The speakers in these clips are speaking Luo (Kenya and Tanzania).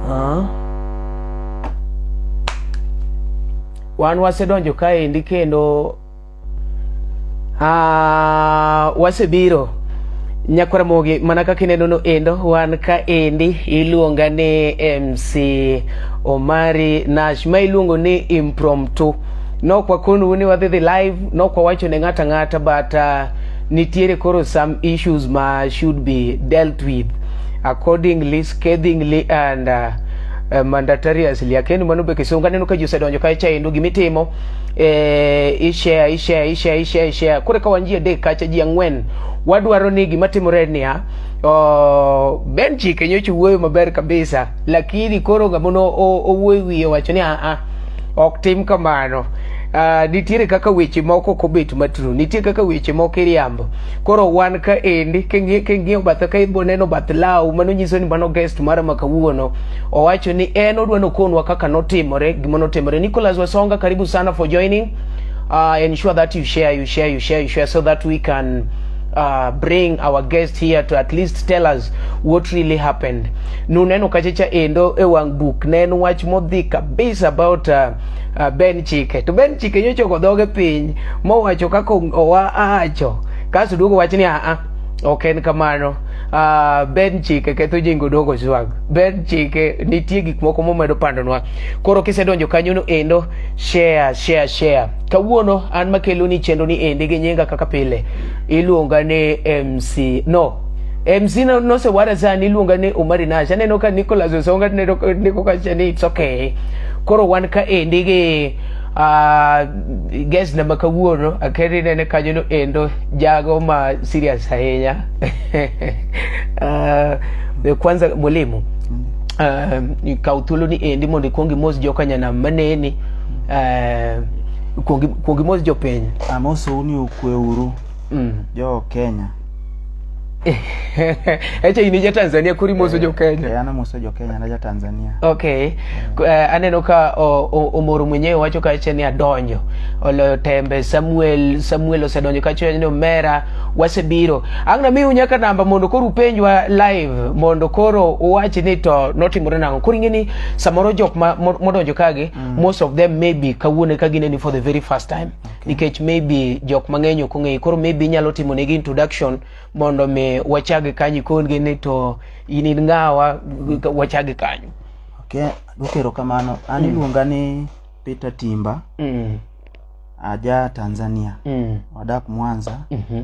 Ah. Wan wasedonjo kaendi kendo ah, wasebiro nyakwaramogi mana kaka ineno no endo wan kaendi iluonga ni mc omari nash ma iluongo ni impromptu nok wakonu ni wadhi dhi live nok wawacho ne ng'ata ng'ata but uh, nitiere koro some issues ma should be dealt with accordingly scathingly and uh, uh, mandatariously akendi mano be kisunga neno ka ji osedonjo kae chaendo gimitimo eh, ishare ishare ishare ishare ishare kore ka wan ji adek kacha ji ang'wen wadwaro ni gima timore niya oh, ben chike nyocha wuoyo maber kabisa lakini koro gamono owuoyo wiye wacho ni aa ah, ah, ok tim kamano Uh, nitiere kaka weche moko ok obet matru nitiere kaka weche moko iriambo koro wan ka endi king'iyo bathe ka ibo neno bath law mano nyiso ni mano guest mara ma kawuono owacho ni en odwa nokonwa kaka notimore gima notimore Nicholas Wasonga karibu sana for joining uh, ensure that you share you share you share you share so that we can uh, bring our guest here to at least tell us what really happened nuneno kacha cha endo e wang' buk ne en wach modhi kabisa about uh, uh, Ben Chike to Ben Chike nyocha ogo dhoge piny mowacho kaka owa acho kaso duogo wach ni aa ok en kamano uh, Ben Chike ketho jingo dogo swag Ben Chike nitie gik moko momedo pandonwa koro kisedonjo kanyono endo share share share kawuono an makelo ni chenro ni endi gi nyinga kaka pile iluonga ni MC no MC no, no se wara za ni lunga ne Umari na shane no ka Nicholas Osonga ne no ne ko ka shane it's okay koro wan ka endi gi uh, guest na maka wuono akere ne ne kanyo no endo jago ma serious ahinya uh, kwanza mwalimu uh, kaw thuolo ni endi mondo ikwong imos joka nyanam maneni uh, kwong imos jopiny amosou ni okweuru mm. jo Kenya Echa in ja Tanzania kuri moso jo Kenya. Eh, ana moso jo Kenya na ja Tanzania. Okay. Uh, aneno ka omoro mwenyewe wacho ka echa ni adonjo. Oloyo tembe Samuel Samuel osedonjo ka chwenyo ni omera wasebiro. Angna mi unyaka namba mondo koro upenjwa live mondo koro uwach ni to notimore nango. Koro ingeni samoro jok ma modonjo kage mm. most of them maybe kawuone ka gineni for the very first time. nikech maybe jok mang'eny ok ong'eyi koro maybe inyalo timo negi introduction mondo mi wachag kanyi kongi ni to in in ng'awa wachag kanyo Okay, gokero kamano. An iluonga ni Peter Timba, mm. aja Tanzania. Mm. Wadak Mwanza. mhm.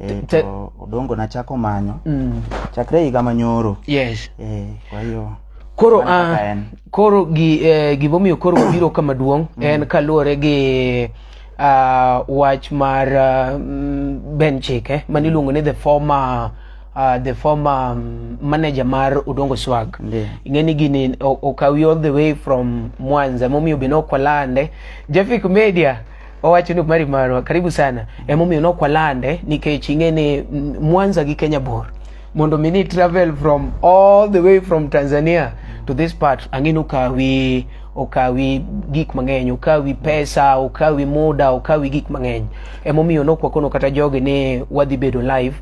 Eh, Te- to odongo nachako manyo Mm. chakre higa manyoro Yes. eh, kwa hiyo Koro Mano ah, kaka en. koro gi eh, gimomiyo koro wabiro kama duong' en kaluwore gi ah, wach mar ah, mm, Ben Chike mane iluongo ni the former ah, the former mm, manager mar Odongo Swag. Ndiyo. ing'eni gini o- okawi all the way from mwanza momiyo be nokwalande jafik media owacho ni mari marwa karibu sana emomiyo nokwalande nikech ing'e ni mwanza gi kenya bor mondo mi ni travel from all the way from tanzania to this part ang'e ni okawi okawi gik mang'eny okawi pesa okawi muda okawi gik mang'eny emomiyo nokwakono kata jogi ni wadhi bedo live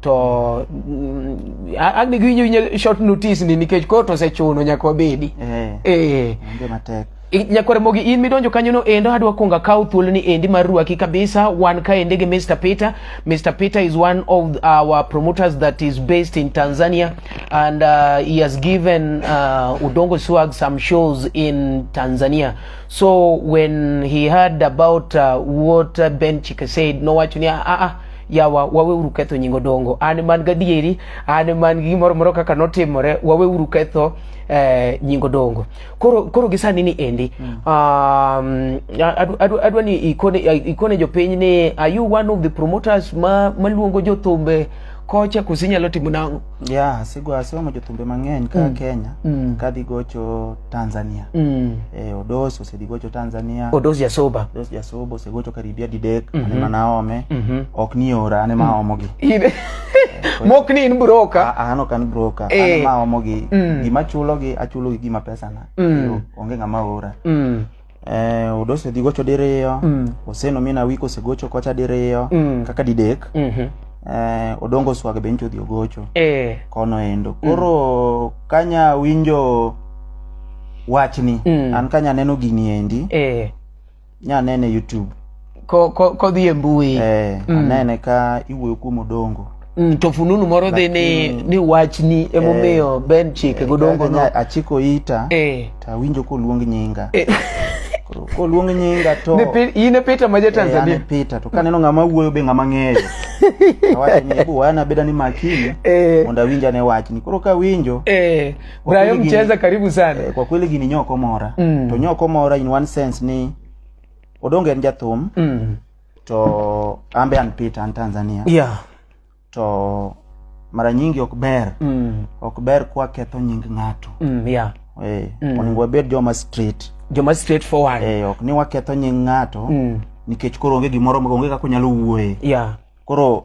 to mm, a- agni giwinjo winjo short notice ni nikech koro to osechuno nyaka wabedi Eh, eh. onge matek Nyakwar Mogi in midonjo kanyono endo adwa kuongo akaw thuoloni endi mar rwaki kabisa wan kaendi gi Mr. Peter. Mr. Peter is one of our promoters that is based in Tanzania and uh, he has given uh, Udongo Swag some shows in Tanzania. So when he heard about uh, what uh, Ben Chika said, nowacho ni ah ah yawa wawe uru ketho nyingo dongo an man gadieri an man gi gimoro moro kaka notimore wawe uru ketho eh, nyingo dongo koro koro gi sani ni endi mm. um, adwa adu, adu ni ikone ikone jopiny ni are you one of the promoters ma maluongo jothumbe kocha kosi nyalo timo nang'o yeah sigo asomo jothumbe mang'eny ka mm. Kenya mm. ka dhi gocho Tanzania mm. eh, Odos osedhi gocho Tanzania Odos Jasoba Odos Jasoba osegocho karibia didek mm -hmm. ane manaome mm -hmm. ok ni ora ane maomogi mm. mok ni in broka an ok an broka eh. an ma omo gi mm. gima chulo gi achulo gi gima pesa na mm. onge ngama ora mm. eh odose dhi gocho diriyo mm. oseno mina wiko se gocho kocha diriyo mm. kaka didek mm -hmm. eh odongo swag be ncho dhi ogocho eh kono endo mm. koro mm. kanya winjo wachni mm. an kanya neno gini endi eh nya nene e youtube ko ko kodhi e mbui eh, mm. anene ka iwuoyo kuom odongo mm, to fununu moro dhi ni ni wachni emomiyo eh, ben chike eh, godongo no achiko ita eh. tawinjo koluong nyinga eh. koluong nyinga to in e Peter ma ja eh, Tanzania eh, Peter to kaneno ng'ama wuoyo be ng'ama ng'eyo awacho ni hebu wana beda ni makini eh. mondo awinja ne wachni koro ka winjo eh. Kwa Brayo kweli gini- Mcheza, karibu sana. Eh, kwa kweli gini nyoko mora Mm. to nyoko mora in one sense ni odonge en jathum Mm. to ambe an peter an tanzania Yeah. to mara nyingi ok ber Mm. ok ber kwaketho nying ng'ato Mm. Yeah. eh, Mm. onego wabed joma street Joma straightforward. eh, ok ni waketho nying ng'ato Mm. nikech koro onge gimoro onge kaka onyalo wuoye Yeah. koro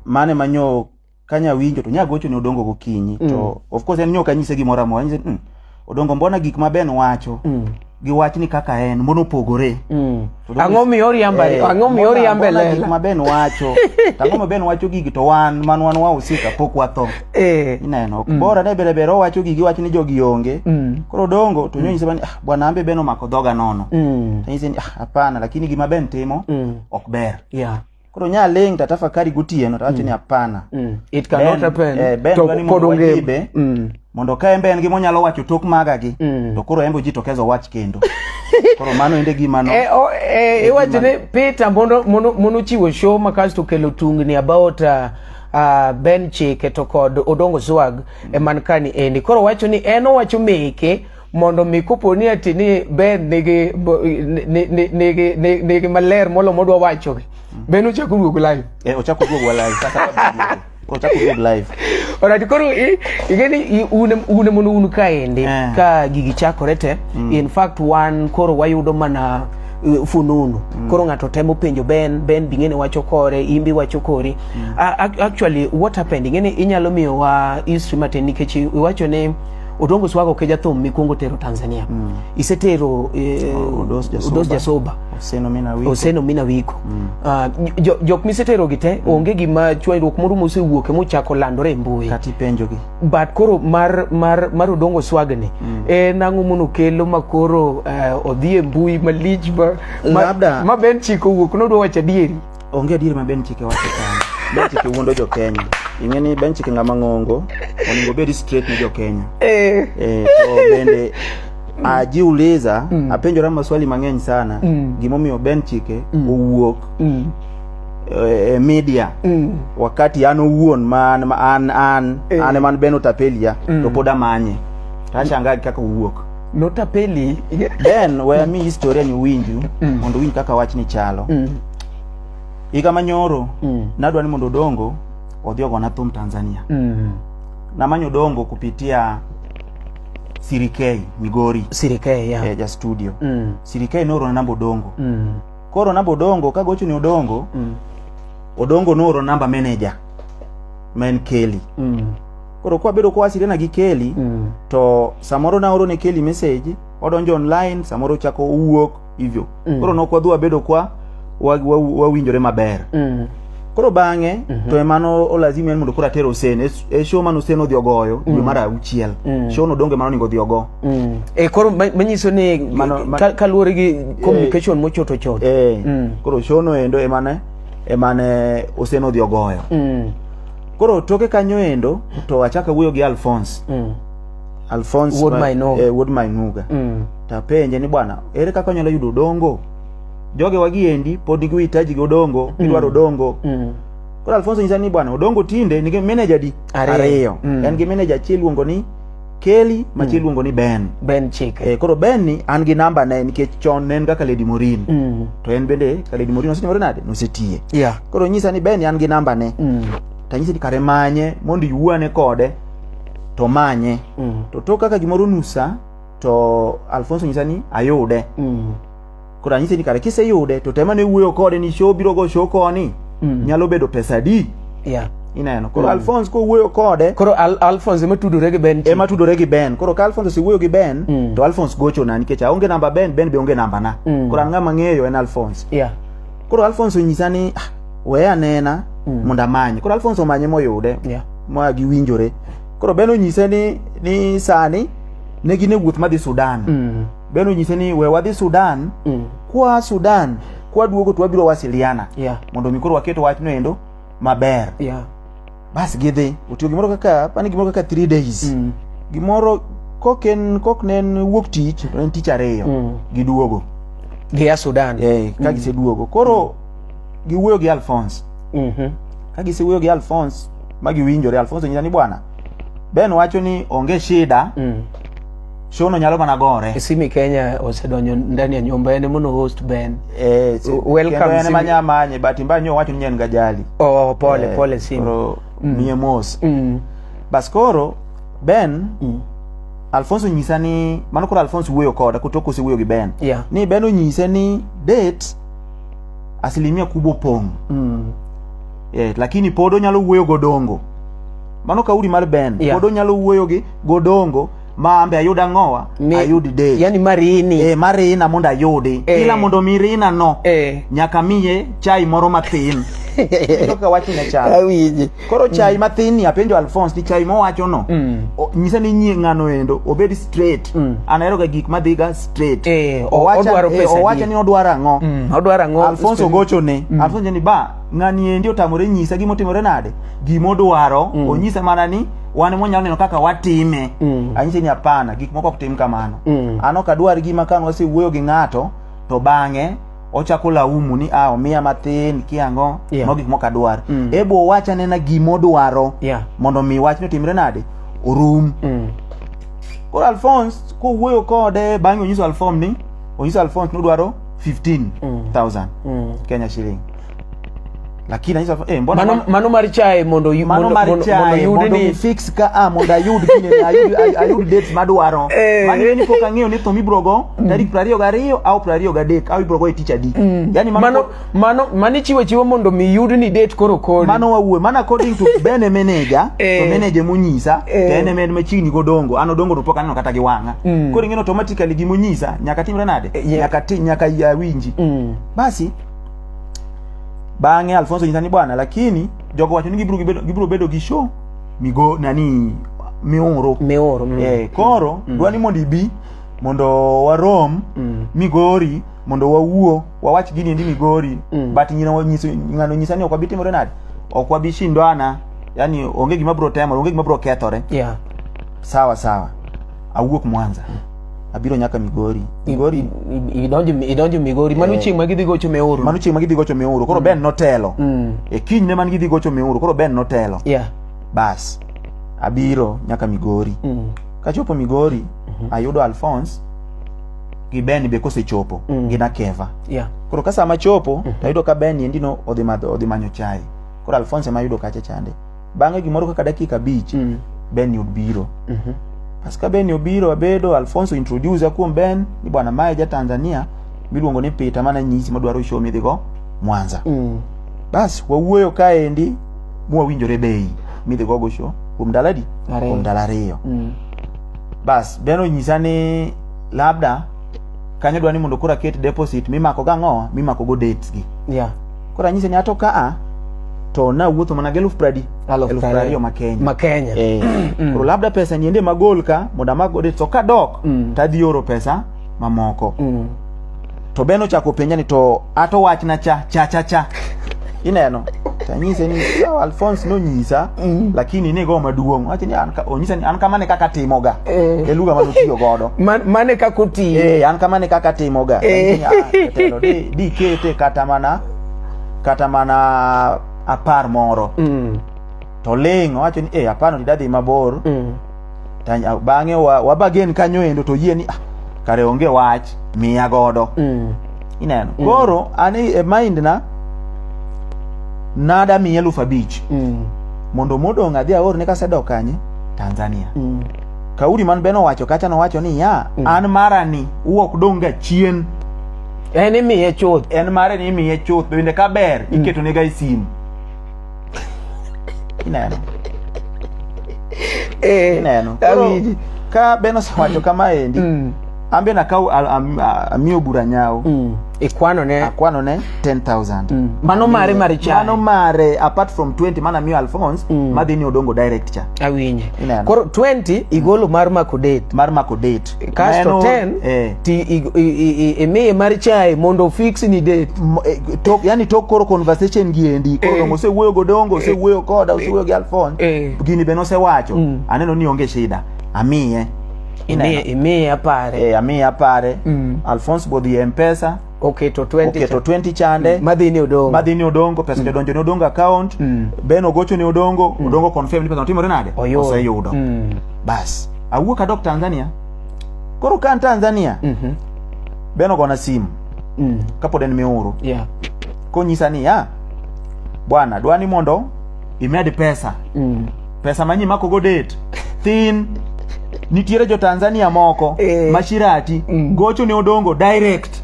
mane manyo kanya winjo to nya gocho ne odongo gokinyi mm. to of course en nyoka nyise gimoro amora nyise mm, odongo mbona gik ma ben wacho mm. gi wach ni kaka en mbona opogore mm. ang'o miyo oriamba eh, ang'o miyo oriamba lela gik ma ben wacho ang'o ma ben wacho gigi to wan man wan wa usika pok watho eh. ineno mm. bora ne bere bere wacho gigi wach ni jogi onge mm. koro odongo to mm. nyise bani ah, bwana ambe ben omako dhoga nono mm. nyise ah, hapana lakini gima ben timo mm. ok ber yeah koro nya ling to atafakari gotieno to awacho ni hapana Mm. It cannot Ben- happen. eh, Ben to dwani pod mondo onge. wajibe. Mm. mondo ka en be en gima onyalo wacho tok maga gi Mm. to koro en be ojitokeza owach kendo koro mano ende gima no Eh, o- eh, iwacho ni Peter mondo mondo mondo chiwo show ma kasto kelo tungni about uh, uh, Ben Chike to kod Odongo Swag e man kani endi. Koro wacho ni en owacho meke mondo mi kopo ni ati ni Ben nigi nigi nigi nigi maler molo modwa wacho gi mm. Ben ochako duogo live eh ochako duogo live sasa ochako duogo live ora ti koro i igeni une une mono unu ka ende eh. ka gigi chakore te mm. in fact wan koro wayudo mana eh, fununu mm. koro ng'ato temo penjo ben ben bing'eni wacho kore imbi wacho kori mm. uh, actually what happened ing'eni inyalo miyowa history matin nikech iwacho ni otongo usi wako keja thum mikwongo tero tanzania mm. isetero eh, oh, udos jasoba, udos jasoba. oseno mina wiko, oseno mina wiko. Mm. Uh, jok jo miseterogi te mm. onge gima chwanyruok moro mosewuoke mochako landore e mbui kata ipenjogi but koro mar, mar, mar odongo swagni mm. en ang'o mono kelo ma koro uh, odhi e mbui malich ma, ma, ma ben chiko wuok nodwa wacho adieri Onge adier ma Ben Chike wacho kanyo. Ben Chike wuondo jo Kenya. Ing'e ni Ben Chike ng'ama ng'ongo, onego obed straight ne jo Kenya. Eh. Eh, to bende ajiuliza mm. apenjora maswali mang'eny sana mm. gimomiyo Ben Chike mm. owuok mm. e, e media mm. wakati an owuon man ma an an eh. an man Ben Otapelia mm. to pod amanye. Tashangaa kaka owuok. notapeli then waya mi historia ni winju mm. mondo winj kaka wach ni chalo mm. higa manyoro mm. nadwa ni mondo odongo odhi ogona thum tanzania mm. namanyo odongo kupitia sirikei migori sirikei yeah. eh, ja studio mm. sirikei noorona namba odongo mm. koro namba odongo kagocho ni odongo mm. odongo nooro namba manager ma en keli mm. koro kwa bedo kwasire na gi Kelly Mm. to samoro na oro ne Kelly message odonjo online samoro chako owuok hivyo Mm. koro nok wadhi wabedo kwa wa- wa- wawinjore maber Mm. koro bang'e Mhm. to emano olazima en mondo koro ater Hussein E s- e show mane Hussein odhi ogoyo dwe mar auchiel Mm. show no donge mano onego odhi ogo Mm. Eh, koro ma- manyiso ni Mano- ma- ka- kaluwore gi communication mochoto choto eh Mm. koro show no endo emane emane Hussein odhi ogoyo Mm. koro toke kanyo endo to achaka wuoyo gi alphonse Mm. alphonse Wuod ma- Mainuga. eh, wuod mainuga Mm. tapenje ni bwana ere kaka onyalo yudo odongo joge wagiendi pod nigi uhitaji gi odongo gidwaro odongo Mm. koro alfonso nyisa ni bwana odongo tinde nigi meneja di Ariyo. ariyo Mm. en gi meneja achiel iluongo ni Kelly machi mm. iluongo ni Ben. Ben Chike. Eh, koro Ben ni an gi namba ne nikech chon ne en kaka Lady Morin. Mm. To en bende ka Lady Morin osetimore nade? Nosetiye. Yeah. Koro nyisa ni Ben an gi namba ne. Mm. Ta nyisa ni kare manye mondo iwuane kode to manye. Mm. To to kaka gimoro nusa to Alfonso nyisa ni ayude. Mm. koro anyise ni kare kiseyude to temane wuoyo kode ni show biro go show koni Mm. nyalo bedo pesa adi yeah. ineno koro Mm. alphonse kowuoyo kode koro Al alphonse ema tudore gi ben ema tudore gi ben koro ka alphonse osewuoyo gi ben Mm. to alphonse gochona nikech aonge namba ben ben be onge namba na Mm. koro an ng'ama ng'eyo en alphonse yeah. koro alphonse onyisa ni "Ah, we anena Mm. mondo amanye koro alphonse omanye moyude yeah. ma giwinjore koro ben onyise ni, ni sani ne gin e wuoth madhi sudan mm. Ben onyise ni we wadhi Sudan mm. kwa Sudan kwa duogo to wabiro wasiliana yeah. mondo mi koro waket wachno endo maber yeah. bas gidhi otiyo gimoro kaka pani gimoro kaka 3 days mm. gimoro kok en kok ne en wuok tich en tich ariyo mm. giduogo gia Sudan eh ka mm. giseduogo koro mm. giwuoyo gi Alphonse mhm mm ka gisewuoyo gi Alphonse ma giwinjore Alphonse nyisa ni bwana Ben wacho ni onge shida mm. shono nyalo mana gore Simi Kenya osedonjo ndani ya nyumba yani mono host Ben. eh, si- Welcome, kendo en Simi. ema nyamanye but mba nyo wacho ni en gajali Oh, pole Eh, pole Simi. koro miye mos Mm. bas koro ben Mm. alfonso nyisa ni mano koro alfonso wuoyo koda kotok osewuoyo gi ben Yeah. ni ben onyise ni date asilimia kubwa opong' Mm. eh, lakini pod onyalo wuoyo godongo mano kauli mar ben Yeah. pod onyalo wuoyo gi godongo ma ambe ayud ang'owa ayud de yani marini eh marina mondo ayudi eh. ila mondo mirina no eh. nyaka miye chai moro mathin ka wacho ne chai awinji koro chai mm. mathin ni apenjo Alphonse ni chai mowacho no mm. nyisa ni nyie ngano endo obed straight mm. anahero ga gik madhiga straight eh, owacho eh, owacho ni odwaro ang'o mm. odwaro ang'o Alphonse ogocho ne mm. Alphonse ni ba ng'ani endi otamore nyisa gimotimore nade gimodwaro mm. onyisa mana ni wan mwanya neno kaka watime mm. anyise ni hapana gik moko ok tim kamano mm. an ok adwar gima ka wasewuoyo gi ng'ato to bang'e ochako laumu ni ah omiya mathin kiango yeah. gik moko adwar mm. ebo owacha nena gima odwaro yeah. mondo mi wach ni otimre nade orum mm. koro alphonse kowuoyo kode bang'e onyiso alfom ni onyiso alphonse ni odwaro 15000 mm. mm. kenya shilling lakini aisa eh mbona mano, mano mar chae mondo yu, mano mar mondo, chae mondo, mondo ni fix ka a ah, mondo ayud kine ayud ayud date madwaro eh. mano ni pok ang'eyo ni to mibrogo mm. tarik 22 au 23 au ibrogo e tich adi mm. yani mano mano mano mani chiwo chiwo mondo mi yud ni date koro kodi mano wawuo mano according to bene manager to eh. manager monyisa eh. to ene med machiegni godongo ano dongo to pok aneno kata gi wanga mm. koro ing'eno automatically gimonyisa nyaka timre nade nyaka nyaka awinji basi bang'e alfonso nyisa ni bwana lakini jogo wacho ni gibiro gibedo- gibiro bedo gi show migo nani mioro mioro mm. eh, koro dwa ni mondo ibi mondo warom Mm. migori mondo wawuo wawach gini endi migori Mm. but nyina wanyiso- ng'ano nyisa ni ok wabi timore nade ok wabi shindwana yani onge gima biro temore onge gima biro kethore yeah sawa sawa awuok mwanza abiro nyaka migori migori I- i- idonjo idonjo migori mano Eh. chieng' ma gidhi gocho meuru mano chieng' ma gidhi gocho miuru koro ben notelo Mm. e kinyne man gidhi gocho miuru koro ben notelo yeah bas abiro nyaka migori Mm. kachopo migori ayudo alphonse gi ben be kosechopo Mm. gi nakeva yeah koro ka sama chopo tayudo ka ben endi no odhi madho odhi manyo chai koro alphonse ema ayudo kacha chande bang'e gimoro kaka dakika abich Mm. ben ni obiro Mhm. as ka ben ni obiro abedo alfonso introduce kuom ben ni bwana mae ja tanzania miluongo ni peter mana nyisi madwaro show midhigo mwanza Mm. bas wawuoyo kaendi mwawinjore bei midhigogo show kuom ndalo adi Ariyo. kuom ndalo ariyo Mm. bas ben onyisa ni labda kanyo dwa ni mondo koro aket deposit mimako gang'owa mimakogo dates gi Yeah. Koro anyise ni ato ka a to nawuotho mana gi eluf pradi Eluf eluf pradi. prariyo ma Kenya. Ma Kenya. Eh, koro labda pesa ni ende magol ka mondo amago de to kadok Mm. to adhi oro pesa mamoko. Mm. To Ben ochako penja ni to ato wachna cha cha cha cha. Ineno? To anyise ni "Yawa, Alphonse nonyisa mm. lakini ni go maduong wacho ni onyisa ni an kama ne kaka timoga eh. e lugha manotiyo godo Man, mane kaka otiyo eh, an kama ne kaka timoga eh. telo di, di kete kata mana kata mana apar moro mm. to ling wacho ni eh, apar no didadhi mabor mm. bang'e wabagen kanyo endo to yie ni ah, kare onge wach miya godo mm. ineno mm. koro an e, e mind na nada miya eluf abich mm. mondo modong' adhi aorne kasedok kanye tanzania mm. kauri man beno wacho kacha nowacho ni ya mm. an marani uok dong' ga chien en imiye chuth en mare ni imiye chuth bende kaber mm. iketonega e simu Ineno. Eh, Ineno. Koro awinji. ka Ben osewacho kama endi, Mm, an be nakaw al- am- a- amiyo bura nyawo. mm. ikwano ne Akwano ne 10,000. Mm. mano mare mare cha Mano mare apart from 20 mana miyo Alphonse Mm. madhi ni Odongo direct cha. awinje Ineno. koro 20 igolo mar mako date Mar mako date. kasto 10 eh. ti imiye mar chai mondo fix ni date eh, to yani to koro conversation gi endi koro eh. ose wuoyo go dongo ose eh. wuoyo koda ose wuoyo gi alfon eh. gini be nose wacho mm. aneno ni onge shida amiye imiye imiye apare eh amiye apare mm. alfons bodhi mpesa oketo 20 oketo 20 chande mm. madhi ni odongo madhi ni odongo pesa mm. jodonjo ni odongo account mm. ben ogocho ni odongo mm. odongo confirm ni pesa otimore nade oseyudo mm. bas awuok adok Tanzania koro kan Tanzania mm -hmm. ben ogona simu mm. kapod en miuru yeah. konyisa ni ya ah, bwana dwani mondo imed pesa Mm. pesa manyi mako go date thin nitiere jo tanzania moko Eh. mashirati Mm. gocho ne odongo direct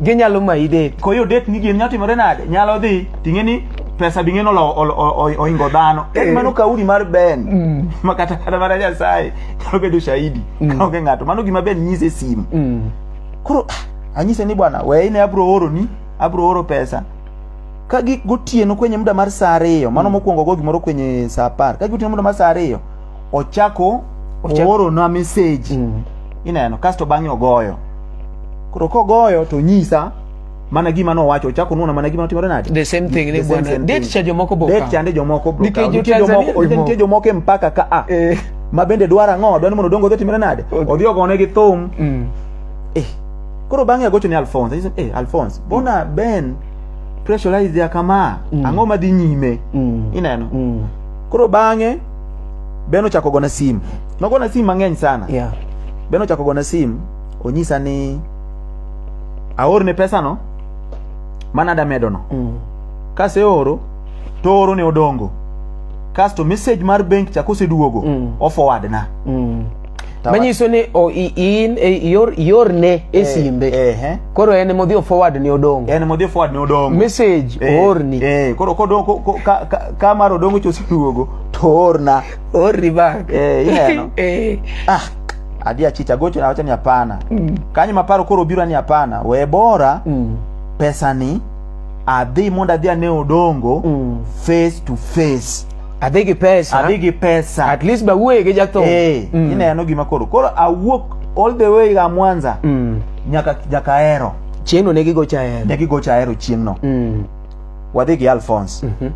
Ginyalo mayi date. koyo date ni gini nyalo timore nade nyalo dhi ting'e ni pesa bing'e no lo- ol- o- o- oingo dhano Eh. en mano kauli mar ben Mm. ma kata kata mana nyasaye nyalo bedo shahidi Mm. kaonge ng'ato mano gima ben nyise e simu Mm. koro ah, anyise ni bwana we ine abro oroni abro oro pesa ka gik gotieno kwenye muda mar saa ariyo mano mm. mokwongo go gimoro kwenye saa apar ka gik gotieno muda mar saa ariyo ochako oorona message mm. ineno kasto bang'e ogoyo koro kogoyo to nyisa mana gima nowacho ochako nuona mana gima notimore nade the same thing ni bwana date cha jomoko boka date chande jomoko boka nitie jomoko nitie jomoko mpaka ka a eh. ma bende dwara ng'o dwani mondo dongo dhi timore nade odhi ogone gi thum mm. eh koro bang'e agocho ne alphonse anyise eh alphonse bona ben pressurize ya kama Mm. ang'o madhi nyime Mm. ineno Mm. koro bang'e ben ochako gona simu nogona simu mang'eny sana Yeah. ben ochako gona simu onyisa ni aorne pesano mana damedono Mm. kaseoro to oro ne odongo kasto message mar benk cha koseduogo Mm. o forward na Mm. manyiso ni in e, yor yorne e eh, simbe eh, eh. koro en modhi o forward ni odong en modhi forward ni odong message eh, orni eh koro kodong ko, ko, ka, ka, ka mar odong cho siduogo to orna orni back eh ineno eh ah adi achicha gocho na wacha ni hapana mm. kanyo maparo koro biro ni hapana we bora mm. pesa ni adhi mondo adhi ane odongo mm. face to face adhi gi pesa adhi gi pesa at least ba wuoye gi jathum eh mm. ineno gima koro koro awuok all the way ga Mwanza mm. nyaka nyaka Ahero chieng'no ne gigocha Ahero ne gigocha Ahero chieng'no mm. wadhi gi Alphonse mm -hmm.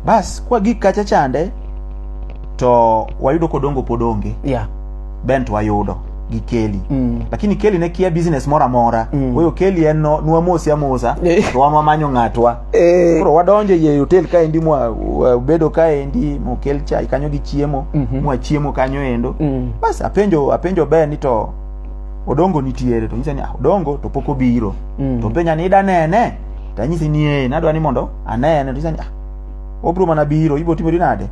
bas kwa gik kacha chande to wayudo kodongo podonge yeah bent wayudo gi keli mm. lakini keli ne kia business moro amora mm. weyo keli en no nwamosi amosa eh. to wan wamanyo ng'atwa eh. koro wadonjo e hotel kaendi mwabedo kaendi mokel chai kanyo gi chiemo mm -hmm. mwachiemo kanyo endo mm. bas apenjo apenjo ber ni to odongo nitiere to nyisa ni ah, odongo to pok obiro mm. to penja ni ida nene to anyisi ni ee nadwa ni mondo anene to nyisa ni ah, obiro mana biro ibiro timori nade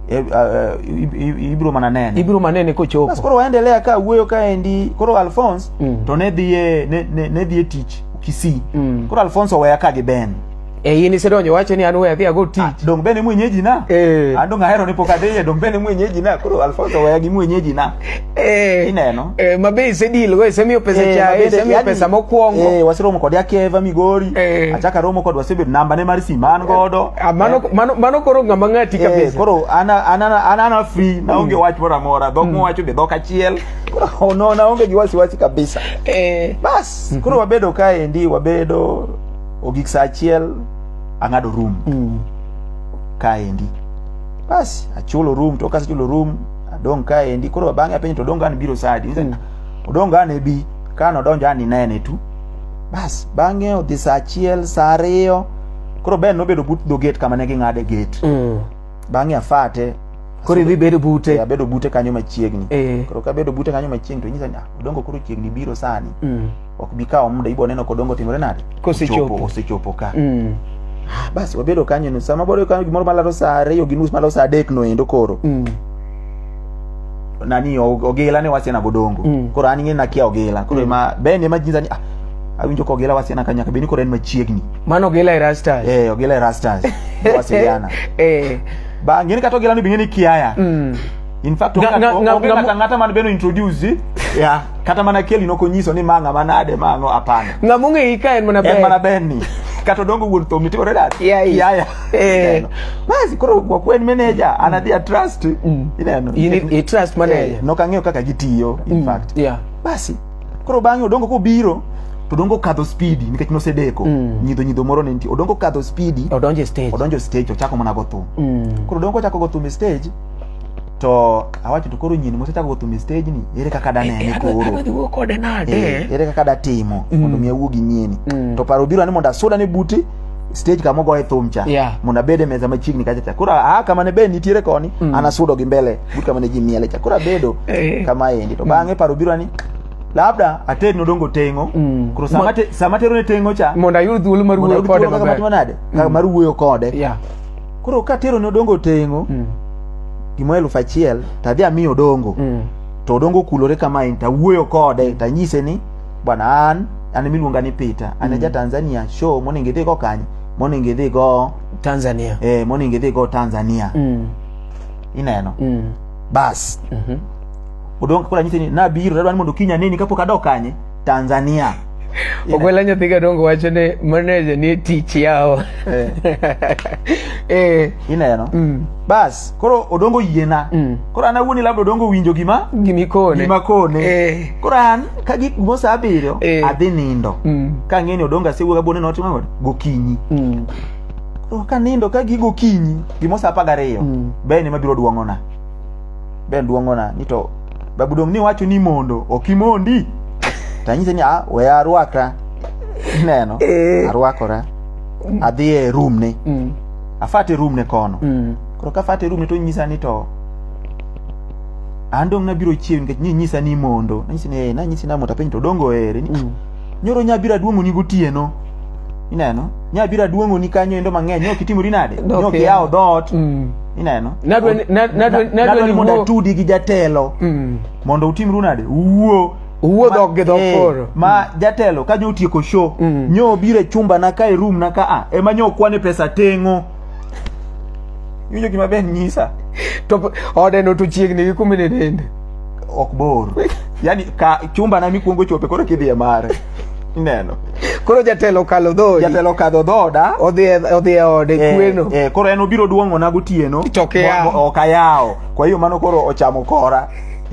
Eh, eh, eh, ibiro mana nene ibiro mana nene kochopo bas koro waendelea ka wuoyo kaendi koro alphonse mm. to ne dhiye ne, ne, ne dhiye tich kisii mm. koro alphonse oweya ka gi ben e in isedonjo wacho ni an we adhi ago tich ah, dong bene mwenyeji na eh. an ah, dong ahero ni pok adhiye dong bene mwenyeji na koro alfonso weya gi mwenyeji na Eh, ineno eh, mabe isedilgo isemiyo pesa eh, chae isemiyo pesa mokwongo eh, waseromo kode akeva migori eh. achako aromo kode wasebedo nambane mar sim an godo eh, ah, mano, eh. mano, mano koro ng'ama ng'ati eh, kabisa koro an ana free naonge mm. wach moro amora dhok mm. mowacho be dhok achiel oh, no naonge gi wasiwasi kabisa eh. bas mm-hmm. koro wabedo kaendi wabedo ogik sa achiel ang'ado room mm. kaendi basi achulo room to kasechulo room adong ka endi koro bang'e apenjo to odong' an biro saa adi Niwacho ni, odong' an ebi kane odonjo an inene tu bas bang'e odhi saa achiel saa ariyo koro ben nobedo but dho gate kama ne ging'ade gate Mm. bang'e afate Koro idhi bedo bute. Eh, abedo bute kanyo machiegni Eh. koro kabedo bute kanyo machiegni to nyisa ni "Ah, odongo koro chiegni biro sani Mm. ok bi kawo muda ibiro neno kodongo timore nade Kosechopo. Ochopo, osechopo ka Mm. Ah, basi wabedo kanyo ni sama boro kanyo gimoro malaro saa ariyo gi nus malaro saa adek no endo koro Mm. nani o- ogila ne wasiana godongo Mm. koro an ing'e nakia ogila koro ema ben ema jinza ni ah, awinjo ka ogila wasiana ka nyaka bed ni koro en machiegni mano gila e rastas eh ogila e rastas wasiliana eh. ba ng'eni kata ogila ni bing'e ni kiaya Mm. in fact Nga- nga- nga- onge nga- kata ng'ata man beno introduce yeah. kata mana keli nokonyiso ni manga manade mango apana ng'ama ong'eyi ka en mana en mana ber benni kata odongo wuon thom nitiere oreda Yeah, yeah. yaya Eh. Ineno. basi koro wakwe en manager anadhi a trust ineno In- in- in trust manager. Eh, nokang'eyo kaka gitiyo in fact yeah. basi koro bang'e odongo kobiro to odongo kadho spidi nikech nosedeko nyidho nyidho moro ne nitie odongo kadho spidi odonje stage odonjo stage ochako mana go thum Mm. koro odongo ochako go thum e stage to awacho to koro nyini mosechako go thum e stage ni ere kaka da nene eh, eh, koro adhi wuo kode nade eh, ere kaka da timo mm. mondo mi awuo gi nyini mm. to paro biro ni mondo asuda ne buti stage kama ogoye thum cha yeah. mondo abed e meza machiegni kacha cha koro aa kama ne be nitiere koni mm. an asudo gi mbele but kama ne ji miele cha koro abedo eh. kama endi to mm. bang'e paro biro ni labda ated nodongo tengo mm. koro sama, te, sama tero ne tengo cha mondo ayud thuolo mar wuoyo kode maber. Kaka mar wuoyo kode yeah. koro ka tero ne odongo tengo mm. gima elfu achiel to adhi amiyo odongo mm. to odongo kulore kamae to awuoyo kode to anyise ni bwana an an miluonga ni peter an mm. ja tanzania show monego idhi go kanye monego idhi go tanzania eh, monego idhi go tanzania mm. ineno mm. bas mm -hmm. odongo kula nyise ni nabiro tadwa ni mondo kinya nini kapok adok kanye tanzania ogwela nyathi gadongo wacho ni maneja ni tich yawo eh. eh. ineno mm. bas koro odongo yiena mm. koro an awuoni labda odongo winjo gima gimikone gima kone eh. koro an ka gik mo sa abiriyo eh. adhi nindo mm. ka ng'eni odongo asewuoga bone notimo kod gokinyi mm. koro ka nindo ka gigo kinyi gimo sa apagariyo mm. bene mabiro duong'ona be luongona ni to babu dong' ni wacho ni mondo ok imondi to anyise ni ah we arwakra ineno Eh. arwakora adhi e room ne Mm. afate room ne kono Mm. koro ka afate room ne to nyisa ni to an dong' nabiro chiew nikech ni nyisa ni mondo nanyisi ni eh, nanyisi ni amondo apenj to dongo ere ni Mm. Nyoro nya bira duomo ni gotieno. Ineno? Nya bira duomo ni kanyo endo mang'eny. Nyo kitimori nade? Nyo Okay. kiyawo dot. Mm. Ineno? Nadwa ni- na- nadwa- nadwa ni Nadwa ni mondo wuo- atudi gi jatelo. Mm. Mondo utimru nade? Uwuo. Uwuo Ma- dhok gi dhok eh, koro. Ma jatelo ka nyo otieko show. Mm. Nyo biro e chumba na ka e room na ka a. Ema nyo kwane pesa teng'o. Iwinjo gima Ben nyisa? To ode no to chiegni gi kumene dende. Ok bor. Yaani ka chumba na mikuongo chope koro kidhi e mare. Ineno. Koro jatelo kalo dhoodi. Jatelo kadho dhoda. Odhi e, odhi e ode eh, kweno. Eh, koro en obiro duong'o na gotieno. To ok ayawo. Kwa hiyo mano koro ochamo kora.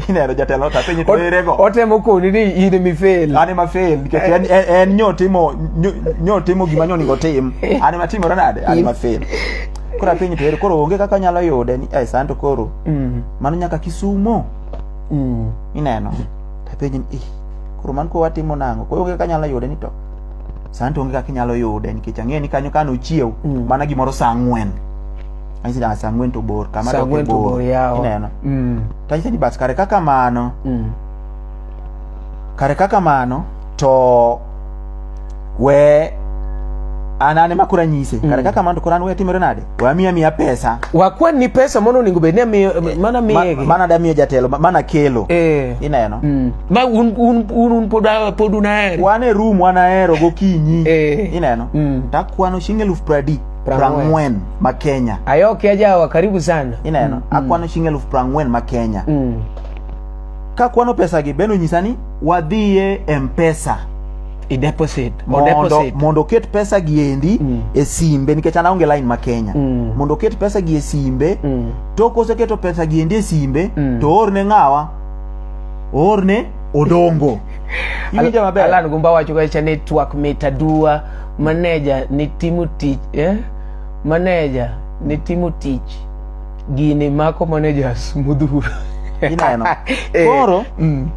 ineno jatelo ta penyi to ere go otemo koni ni in emi fail an ema fail nikech en eh. en, en nyo timo nyo, nyo timo gima nyo ningo tim an ema timore nade an ema fail koro apenyi to ere koro onge kaka nyalo yude ni eh santo koro mm. mano nyaka kisumo mm. ineno tapenyi ni eh, koro man ko watimo nango koro onge kaka nyalo yude ni to santo onge kaka inyalo yude nikech ang'eyo ni kanyo kano chiew mm. mana gimoro saa ang'wen Anyise ni, "Ah, saa ang'wen to bor kama Saa ang'wen to bor, yawa. ineno Mm. to anyise ni bas kare kaka mano Mm. kare kaka mano to we an an ema koro anyise kare kaka mano to koro an we atimore nade we amiya miya pesa wakwan ni pesa mano onego bed ni amiyo- mana Ma- miyegi mana damiyo jatelo ma- mana kelo Eh. ineno Mm. ma un, un, un, un pod, a- pod unaheri wan e room wanahero gokinyi Eh. ineno Mm. takwano chieng' eluf pradi prangwen ma kenya ayoke ajawa karibu sana ineno mm, mm. akwano mm. shing eluf prangwen ma kenya mm. ka kwano pesa gi beno nyisa ni wadhiye mpesa i deposit mondo mondo ket pesa gi endi mm. e simbe nikech an aonge line ma kenya mm. mondo ket pesa gi e simbe mm. to koseketo pesa gi endi e simbe mm. to orne ng'awa orne odongo iwinjo maber alan gumba wacho kacha ni twak mit aduwa maneja ni timo tich eh? maneja ni timo tich gini mako maneja smudhuru ineno eh, koro mm.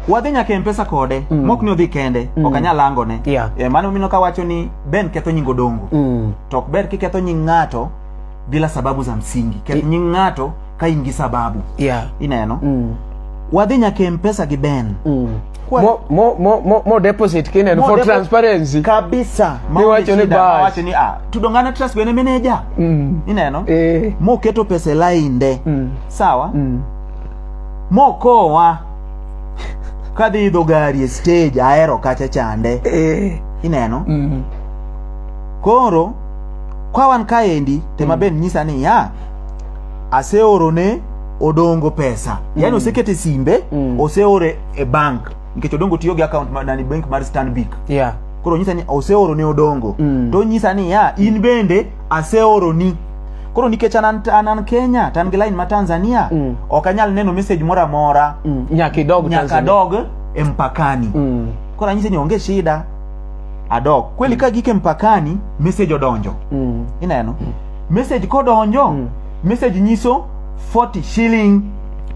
wadhi nyaka e mpesa kode mm. mok ni odhi kende mm. ok anyal langone yeah. e, eh, mano mino kawacho ni ben ketho nying odongo mm. to ok ber kiketho nying ng'ato bila sababu za msingi keth nying ng'ato ka in gi sababu yeah ineno mm. wadhi nyaka e mpesa gi ben mm. Kwa- mo, mo, mo, mo, mo deposit kinen Mo for depo- transparency kabisa Niwacho ni bas. wacho ni ah, tudongana trust bene meneja mm. ineno eh. moketo pesa e lainde mm. sawa mm. mokowa kadhi idho gari e stage aero kacha chande eh. ineno mm. koro kwa wan kaendi tema mm. ben nyisa ni ya aseoro ne odongo pesa mm. yani osekete simbe mm. oseore e bank nikech odongo tiyo gi account ma, nani bank mar stanbic yeah. koro nyisa ni oseoro ne odongo mm. to nyisa ni ya in bende aseoro ni koro nikech anan, anan kenya tan gi line ma tanzania mm. ok anyal neno message moro amora mm. nyaka idog nyaka dog e mpakani mm. koro anyise ni onge shida adok kweli ka gike mpakani message odonjo mm. ineno mm. message kodonjo mm. message nyiso 40 shilling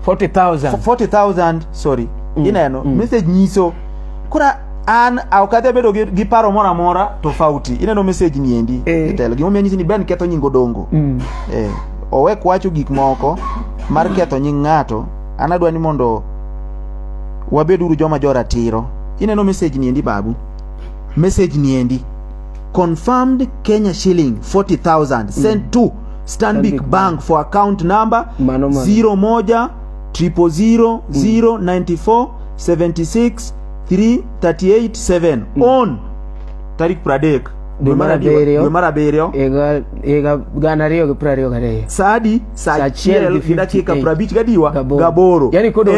40000 40000 sorry mm. ineno mm. message nyiso kora an ok adhi abedo gi, gi paro moro amora tofauti ineno message ni endi eh. telo gima omiyo nyisi ni ben ketho nying odongo mm. eh, owek wacho gik moko mar ketho nying ng'ato an adwa ni mondo wabed uru joma joratiro ineno message ni endi babu message ni endi confirmed kenya shilling 40000 sent to stanbic Stanbic bank for account number Mano, mano. 01 000 094 76 338 7 on tarik pradek Dwe mar abiriyo. dwe mar abiriyo higa higa gana ariyo gi piero ariyo gariyo saadi sachiel gi dakika prabich gadiwa gaboro yani kodo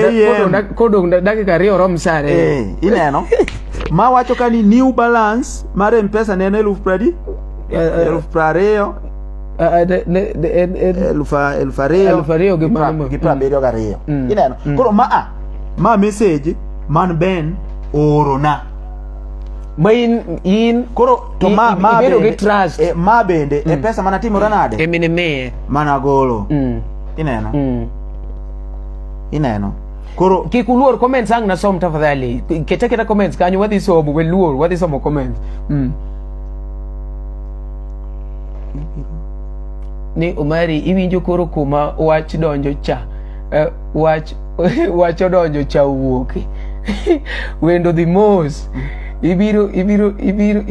kodo dakika ariyo rom sare eh, ineno ma wacho ka ni new balance mar mpesa ne en eluf pradi eh, eh. eluf prariyo eluf ariyo gi prabiriyo gariyo mm. ineno mm. koro maa ma message man ben orona ma in in koro to ma ma bedo gi trust e, ma bende e mm. e pesa mana timore nade e mine me mana golo mm. ineno mm. ineno koro kik uluor comments ang nasom tafadhali kete kete comments kanyo wadhi somo we luor wadhi somo comments mm. ni umari iwinjo koro kuma wach donjo cha uh, wach wach odonjo cha owuok wendo dhi mos ibiro ibiro ibiro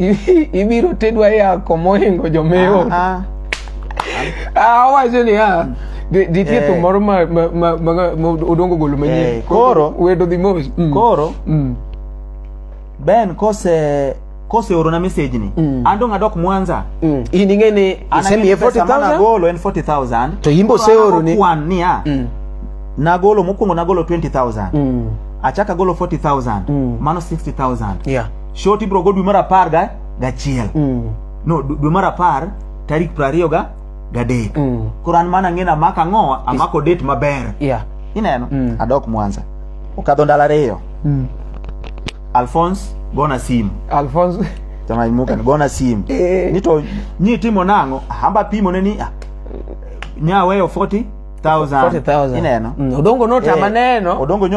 ibiro tedwa yako mohingo jomewo ah, ah. awacho ah, ni ah nitie eh. thum moro ma odongo golo manyien eh, koro wendo dhi mos mm. koro mm. Ben kose kose oro na message ni mm. ando ngadok mwanza mm. ini ngene isemi ye 40000 golo en 40000 to yimbo se oro ni kwan ni a mm. na golo mukungo na golo 20000 mm. achaka golo 40000 mm. mano 60000 yeah shoti bro go dwe mar apar ga gachiel mm. no dwe mar apar tarik piero ariyo ga gadek mm. koro an mana ng'ena amako ang'o amako date maber yeah. ineno mm. adok mwanza okadho ndalo ariyo mm. Alphonse gona simu Alphonse tama imuka gona simu eh. nito nyi timo nango hamba pimo ne ni ah, nya weyo 40 ineno mm, odongo nota eh, maneno odongo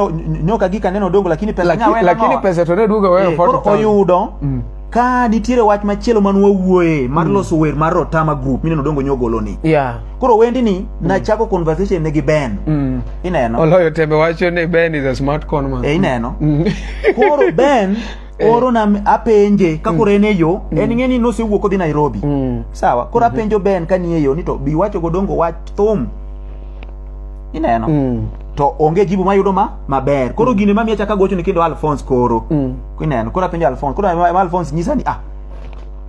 nyoka gika neno odongo lakini pesa lakini pesa to ne duogo wewe 40 eh, oyudo mm. ka nitiere wach machielo man wawuoye mar mm. loso wer mar Rotama group mineno dongo nyogolo ni yeah. koro wendi ni mm. nachako conversation ne gi Ben mm. ineno oloyo tembe wacho ni Ben is a smart con man e, ineno mm. koro Ben eh. oro na apenje ka mm. koro en e yo mm. en ng'e ni nosewuok odhi Nairobi mm. sawa koro mm-hmm. apenjo Ben ka ni e yo ni to bi wacho go dongo wach thum ineno mm. to onge jibu mayudo ma maber koro mm. gine mamiya chaka gocho ni kendo Alphonse koro mm. Kwa nini anakula penye Alphonse? Kuna ma- ma- Alphonse nyisa ni ah.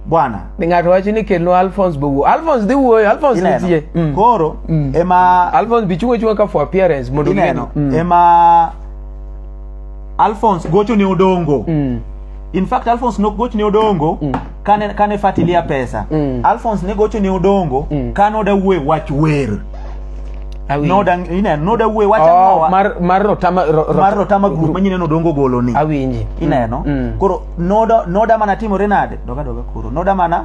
Bwana. Ni ng'ato wacho ni kelno Alphonse be wuo. Alphonse dhi wuoyo, Alphonse Ineno. nitie. Mm. Koro Mm. ema Alphonse bi chungo chunga ka for appearance mondo ineno ging'e ni- Mm. ema Alphonse gocho ne Odongo. Mm. In fact Alphonse nok gocho ne Odongo. Mm. kane kane fatilia pesa mm. alphonse ne gocho ne odongo mm. kane oda wuoye wach wer noda wuoye wach oh, mar rotama grup manyine nodongo golo ni awinji ineno mm. mm. koro noda mana timore nade doga doga koro noda mana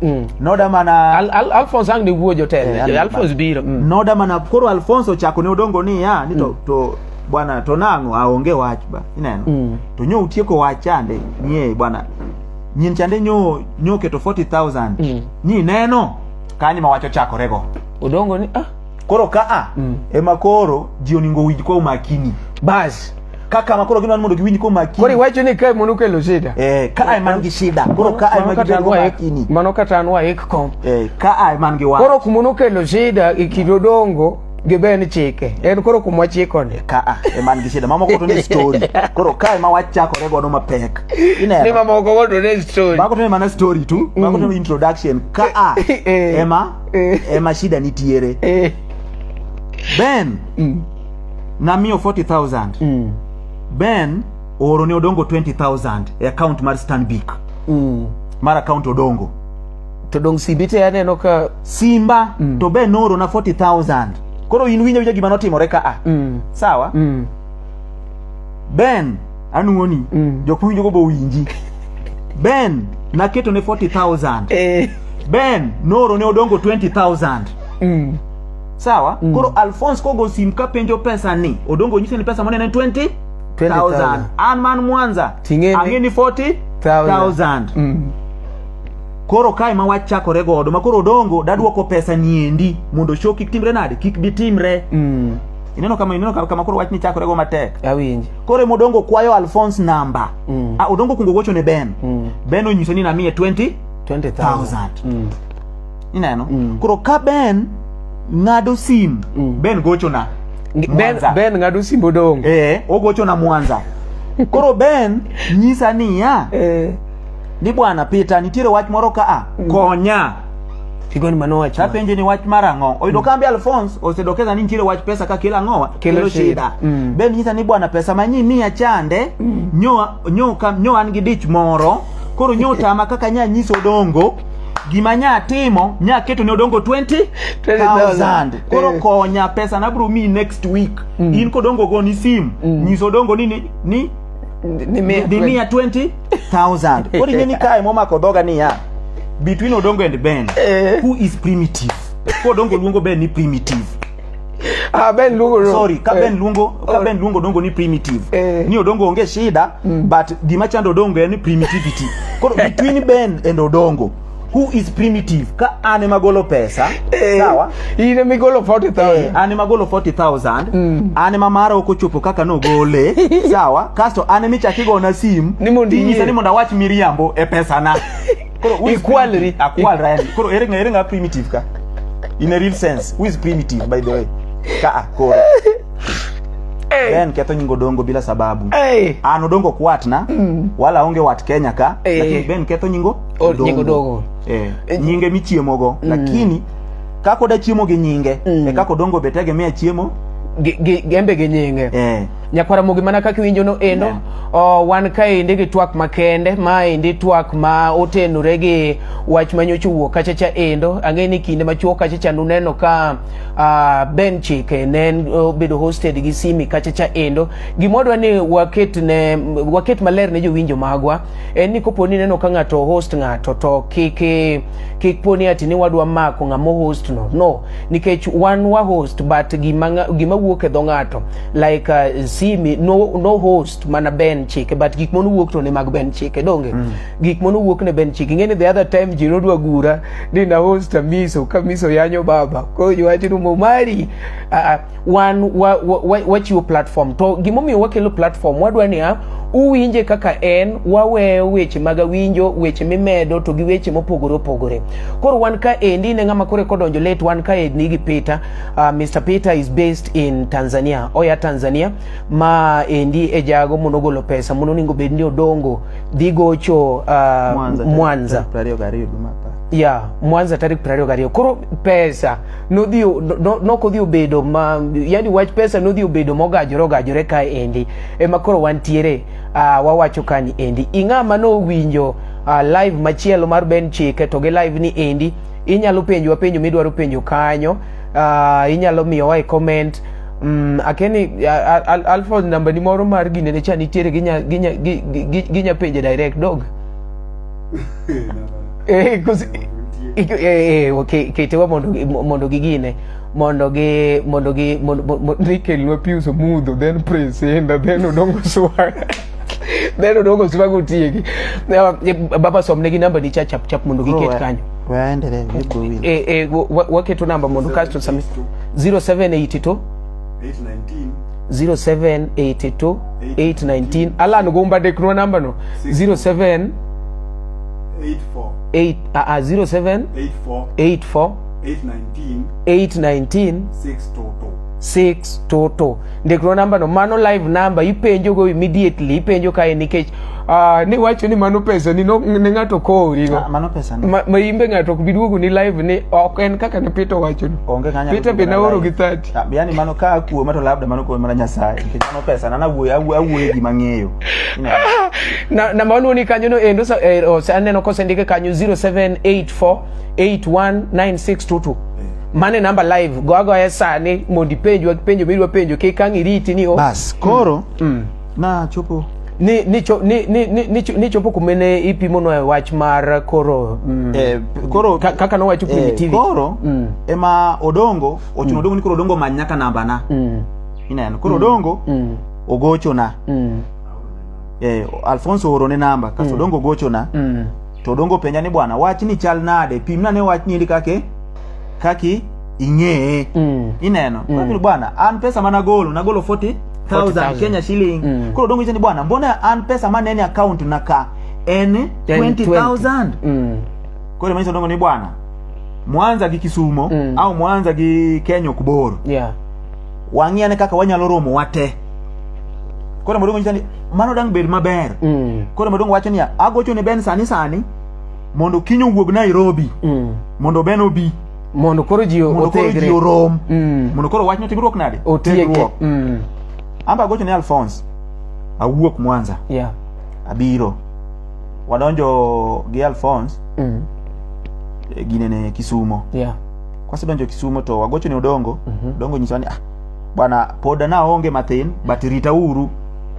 mm. noda mana alphonse ang ne wuoyo jotelo eh, alphonse biro mm. noda mana koro alphonse ochako ne odongo ni ya ni to, mm. to bwana to nang'o aonge wach ba ineno Mm. to nyo utieko wach chande nie bwana nyin chande nyo nyo keto 40000 Mm. ni neno kanyo ma wach ochakorego Odongo ni ah koro kaa Mm. ema koro ji oningo winj kwa umakini bas. kaka ma koro ginwan mondo giwinj kwa Koro umakini iwacho ni kae mondo kelo shida. eh kaa ema ngi shida koro kaa ema Mano kata gibedo an waik- umakini Mano kata an waik kom. eh kaa ema ngi wach Koro kumono kelo shida e kind Odongo gibe ni chike en koro kuma wachikoni ka a e man gi shida mamoko to ne story koro ka ma wachakore godo mapek ineno ni mamoko godo ne story mamoko to ne mana story tu mm. mamoko to ne introduction ka a eh, eh. ema eh. ema shida nitiere ben mm. namiyo 40000 mm. ben ooro ne odongo 20000 e account mar stanbic mm. mar account odongo To dong simbi te aneno ka simba mm. to be noro na 40000. Koro in winjo winjo gima notimore ka a. Mm. Sawa? Mm. Ben anuoni mm. jok mowinjo go bowinji. Ben naketo ne 40000. Eh. Ben noro ne odongo 20000. Mm. Sawa? Mm. Koro Alphonse kogo sim ka penjo pesa ni odongo nyise ni pesa monene 20 20,000 an man Mwanza ang'e ni 40,000 mm. Koro kae ma wach chakore godo ma koro odongo dadwoko pesa niendi mondo show kik timre nade kik bi timre. Mm. Ineno kama ineno kama koro wach ni chakore go matek. Awinji. Koro e modongo kwayo Alphonse namba. Mm. Ah, odongo kungo gocho ne Ben. Mm. Ben onyiso ni namiye 20 20,000. Mm. Ineno. Mm. Koro ka Ben ng'ado sim mm. Ben gocho na. Ben, ben ng'ado sim odongo. Eh, ogocho na Mwanza. Koro Ben nyisa niya. Eh. ni bwana Peter nitiere wach moro ka a mm. konya Tigoni mano wach. Apenje ni wach mar ang'o. Oyudo mm. kambi Alphonse osedokeza ni nitiere wach pesa ka kila ang'owa kelo shida. Mm. Ben nyisa ni bwana pesa manyi miya chande mm. nyo nyo kam nyo an gi dich moro. Koro nyo tama kaka nya nyiso dongo gima nya timo nya keto ne odongo 20 20,000 koro eh. konya pesa na bro mi next week mm. in kodongo go ni sim mm. nyiso dongo ni ni ni ni mia 20 thousand koro ing'e ni kae momako dhoga niya between odongo and ben eh. who is primitive ko odongo luongo ben ni primitive Ah, ben luongo no. sorry ka eh. ben luongo ka oh. ben luongo dongo ni primitive eh. ni odongo onge shida mm. but gima chando odongo en primitivity koro between ben and odongo who is primitive ka an ema golo pesa eh, sawa in ema igolo 40000 eh, an ema golo 40000 mm. an ema mara ok ochopo kaka nogole sawa kasto an ema ichak igona sim ni mondo inyisa ni mondo awach miriambo e pesa na koro ikwalri akwalra yani koro ere ng'ere ng'a primitive ka in a real sense who is primitive by the way ka ah, koro hey. then ketho nyingo dongo bila sababu hey. an odongo kwatna mm. wala onge wat kenya ka hey. lakini ben ketho nyingo Oh, nying odongo. Eh, eh nyinge michiemogo mm. lakini kaka oda chiemo gi nyinge mm. e kaka odongo be tegemea chiemo gembe gi nyinge eh. nyakwara mogi mana kaka iwinjo no endo yeah. oh, wan kaendi gi twak makende maendi twak ma otenore gi wach manyocha owuok kachacha endo ang'e ni kinde machuok kachacha nuneno ka uh, ben chike ne obedo uh, hosted gi simi kachacha endo gimodwa ni waket, ne, waket maler ne jowinjo magwa en ni kopo ni ineno ka ng'ato host ng'ato to kik kik po ni ati ni wadwa mako ng'ama host no no nikech wan wa host but gima gima wuok e dho ng'ato like uh, simi no no host mana ben chike but gik mono wuok to ne mag ben chike donge mm. gik mono wuok ne ben chike ngene the other time jiro dwa gura ni na host miso ka miso yanyo baba ko yuachi rumo mari uh, wan wachiwo wa, wa, wa platform to gimomiyo wakelo platform wadwa niya uwinje kaka en waweyo weche mag awinjo weche mimedo to gi weche mopogore opogore koro wan ka endi ne ng'ama kore kodonjo let wan ka endi gi peter uh, ah, mr peter is based in tanzania oya tanzania ma endi e jago mondo ogolo pesa mondo oningo bed ni odongo dhi gocho uh, ah, mwanza, mwanza. ya mwanza tarik 22 koro pesa nodhi nok odhi obedo ma yani wach pesa nodhi obedo mogajore ogajore ka endi ema koro wantiere uh, wawacho kani endi ing'a ma nowinjo uh, live machielo mar Ben Chike to gi live ni endi inyalo penjwa penjo midwaro penjo kanyo uh, inyalo miyowa e comment Mm, akeni alfred namba ni moro mar ginene cha nitiere ginya, ginya, ginya, ginya penje direct dog Eh, kus- ik- eh, eh, okay, ketewa mondo gi- mo- mondo gigine mondo gi mondo gi mondo- mo- mo- ni kelnwa pius omudho then presenda then odongo swaga then odongo swaga otieki Eh, eh, baba somnegi namba ni cha chap chap mondo giket kanyo waendelee vigo wili Eh, eh, wa- wa- waketo namba mondo kasto sami 0782 819 0782 819 ala nugumba de kunwa namba no 07 8 a a 07 84 819 6 toto ndikro namba no mano live number ipenjo go immediately ipenjo kae nikech uh, ni wacho ni mano pesa ni no, ne ng'ato kori no ah, mano pesa ni ma, ma imbe ng'ato ok biduogo ni live ni ok en kaka ne Peter wacho no Peter be naoro gi 30 Ah, Yaani mano ka akuo mato labda mano kuo mana Nyasaye. Nikech mano pesa na nawuoyo awuoyo awuoyo gima ng'eyo. Ina- na namba waluwo ni kanyo no endo sa- eh, ose- aneno kosendike kanyo 0784819622 mane namba live go agoye sani mondo ipenjwa penjo midwa penjo kik ang' iriti ni o- Bas koro na chopo ni ni cho- ni- ni- ni- ni cho- ni chopo kumene ipimono e wach mar koro mm, eh, koro ka- kaka nowacho eh, primitivity. koro Mm. ema odongo ochuno mm. odongo ni koro odongo many nyaka namba na mm. ineno koro mm. odongo mm. ogocho na mm. eh, alfonso oro ne namba kaso mm. odongo ogocho na mm. to odongo penja ni bwana wach ni chal nade pimna ne wach ni kake kaki ing'eye mm. ineno mm. bwana an pesa mana golo nagolo 40 4000 Kenya shilling mm. koro dongo ni bwana mbona an pesa mana ni account na ka en 20000 mm. koro mimi dongo ni bwana mwanza gi kisumo mm. au mwanza gi kenya ok bor yeah. wang'iane kaka wanyalo romo wate koro maduong' nyisa ni mano dang' bed maber mm. koro maduong' wacho niya agocho ne ben sani sani mondo kiny owuog nairobi mm. mondo ben obi mondo koro ji otegre orom mm. mondo koro wachno tiegruok nade otiegruok mm. amba agocho ne alphonse awuok mwanza yeah. abiro wadonjo gi Alphonse mm. e gine ne Kisumo yeah. Kwasedonjo Kisumo to wagocho ne Odongo mm -hmm. Odongo nyiso ni ah, bwana pod naonge mathin but rita uru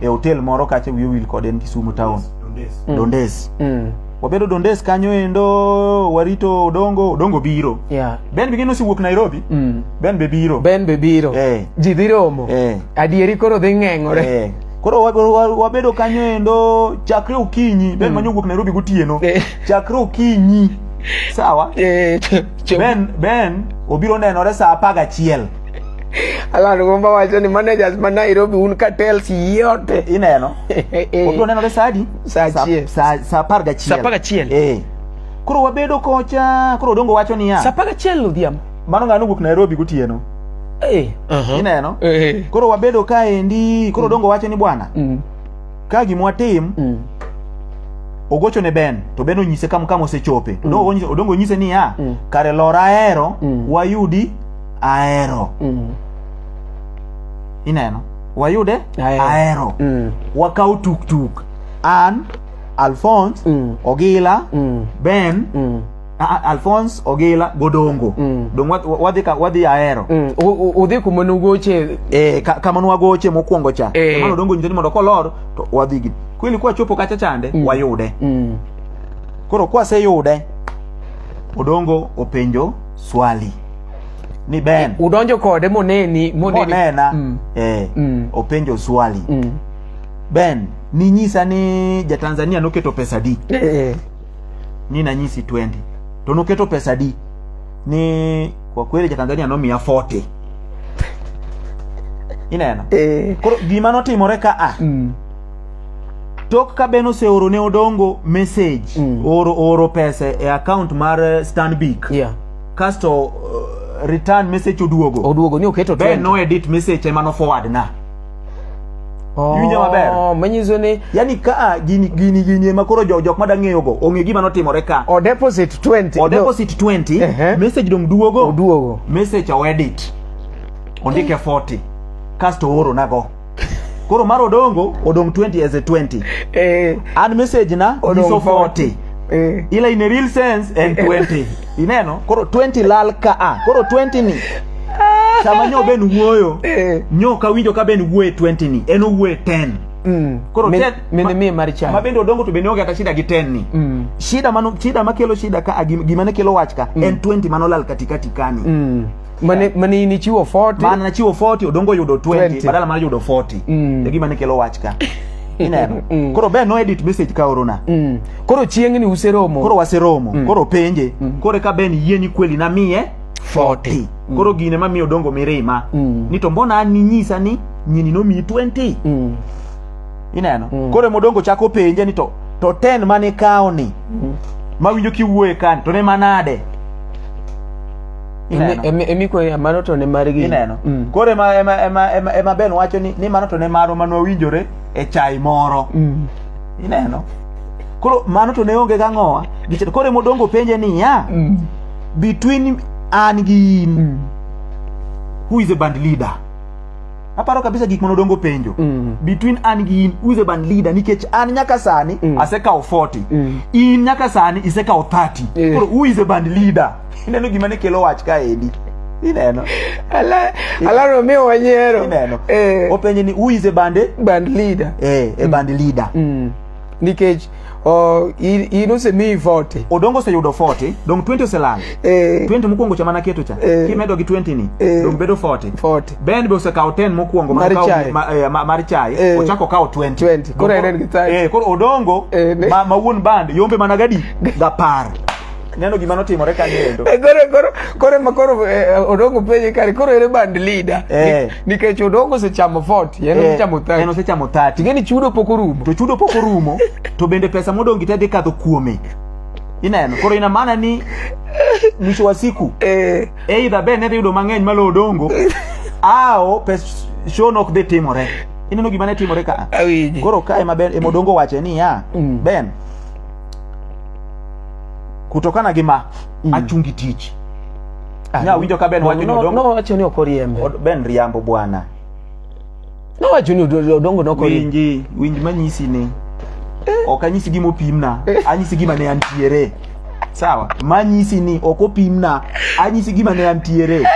e hotel moro kacha wiyo wil kode en Kisumo town Dondes, mm. Dondes. Mm. wabedo Dondes kanyo endo warito Odongo Odongo biro yeah. Ben bingine osiwuok Nairobi mm. Ben be biro Ben be biro eh. ji dhi romo eh. adieri koro dhi ng'eng'ore eh. Koro wabedo kanyo endo chakre okinyi, Ben mm. manyo wuok Nairobi gotieno. Eh. Chakre okinyi. Sawa? Eh, ben Ben obiro nenore saa 11. Alan Gomba wacho ni managers ma Nairobi un cartels yote ineno. Eh. Obiro nenore saa adi? Saa achiel. Saa saa 11. Saa 11. Eh. Koro wabedo kocha, koro dongo wacho niya. Saa 11 odhiambo. mano ng'ano wuok Nairobi gotieno hey. Eh. uh -huh. ineno hey. Eh. koro wabedo kaendi koro mm. dongo wache ni bwana mm. ka gima watim mm. ogocho ne Ben to Ben onyise kam kam osechope to mm. odongo onyise ni ya mm. kare lora ahero mm. wayudi ahero mm. ineno wayude ahero mm. wakaw tuktuk an Alphonse mm. Ogila mm. Ben mm. Alphonse Ogila Godongo mm. dong wadhi ka wadhi ahero mm. udhi kuma nugoche eh ka, kama nwagoche mokwongo cha eh. mano dongo nyiteni mondo kolor to wadhi gi kweli kwa chopo kacha chande mm. wayude mm. koro kwa se yude Odongo openjo swali ni Ben udonjo kode moneni moneni monena mm. eh mm. openjo swali mm. Ben ni nyisa ni ja Tanzania noketo pesa di eh. eh. ni nanyisi 20 to noketo pesa di ni kwa kweli jatanzania nomiya 40 ineno Eh. koro gima notimore ka a Mm. tok ka ben oseoro ne odongo message Mm. oro, oro pesa e account mar eh, stanbic Yeah. kasto uh, return message oduogo Oduogo ni oketo ben 20. no edit message ema no forward na Oh, Iwinja maber? Manyiso ni yani ka ah, gini gini gini ema koro jo jok madang' ng'eyogo ong'e gima notimore ka. O deposit 20. O deposit 20, uh -huh. message dong' duogo. Oduogo. Message o edit. Ondike 40. Kasto ooro nago. Koro mar odongo odong' 20 as a 20. Eh. An message na odong' 40. Eh. Ila in a real sense en 20. Ineno? Koro 20 lal ka a. Ah, koro 20 ni. Sama nyo ben wuoyo. Eh. Nyo ka winjo ka ben wuoye 20 ni. En owuoye 10. Mm. Koro men, mene mie mar chai. Ma bende odongo to bende onge kata shida gi 10 ni. Mm. Shida mano shida makelo shida ka gima ne kelo wach ka mm. en 20 mano lal katikati kani. Mm. mane mane in ichiwo 40 mane nachiwo 40 odongo yudo 20, 20. badala mar yudo 40 mm. e gima ne kelo wach ka ineno mm. koro be no edit message ka orona mm. koro chieng'ni useromo koro waseromo mm. koro penje mm. koro ka ben yie ni kweli na miye 40 mm. koro gine ma miyo dongo mirima mm. ni to mbona an ninyisa ni nyini no miyi 20 mm. ineno mm. koro modongo chako penje ni to to 10 mane kawo ni mm. mawinjo kiwuoye kan to ne manade mano to ne margi ineno mm. koro ema ema ema ema ema ben wacho ni ni mano to ne marwa mano winjore e chai moro mm. ineno koro mano to ne onge ga ngowa gichito koro ema odongo penje ni ya mm. between an gi in mm. who is a band leader aparo kabisa gik manodongo penjo mm. between an gi in who is a band leader nikech an nyaka sani mm. asekawo 40 mm. in nyaka sani isekawo 30 yeah. koro who is a band leader ineno gima ne kelo wach ka edi ineno ala ala romeo wanyero ineno eh openje ni who is a band band leader eh a band leader mm. nikech oh, in, in osemiyi vote odongo oseyudo 40 dong 20 oselal eh 20 mokwongo cha mana keto cha Eh. kimedo gi 20 ni Eh. dong bedo 40 vote ben be osekawo 10 mokwongo Mar mokawo- chai. ma- eh, ma- mar chai Eh. ochako kawo 20 20, koro Dongo- en en gi 30. eh, koro odongo Eh, ne- ma ma wuon band yombe mana gadi gapar neno gima notimore ka niendo eh, koro koro koro ma koro eh, odongo penye kare koro ere band leader eh. nikech odongo osechamo fort yeno eh. osechamo thati yeno osechamo thati ngeni chudo pok orumo to chudo pok orumo to bende pesa modongi te dhi kadho kuome ineno koro ina maana ni mwisho wa siku eh. either ben ne dhi yudo mang'eny malo odongo ao pes show nok dhi timore ineno gima ne timore ka koro ka ema ben ema odongo wache niya mm. ben kutokana gi ma mm. achungi tich ah, nya winjo ka ben wacho ni odongo wacho ni okoriembe ben riambo bwana no wacho ni odongo no kori winji winj manyisi ni eh. ok anyisi gima opimna eh. anyisi gima ne antiere sawa manyisi ni ok opimna anyisi gima ne antiere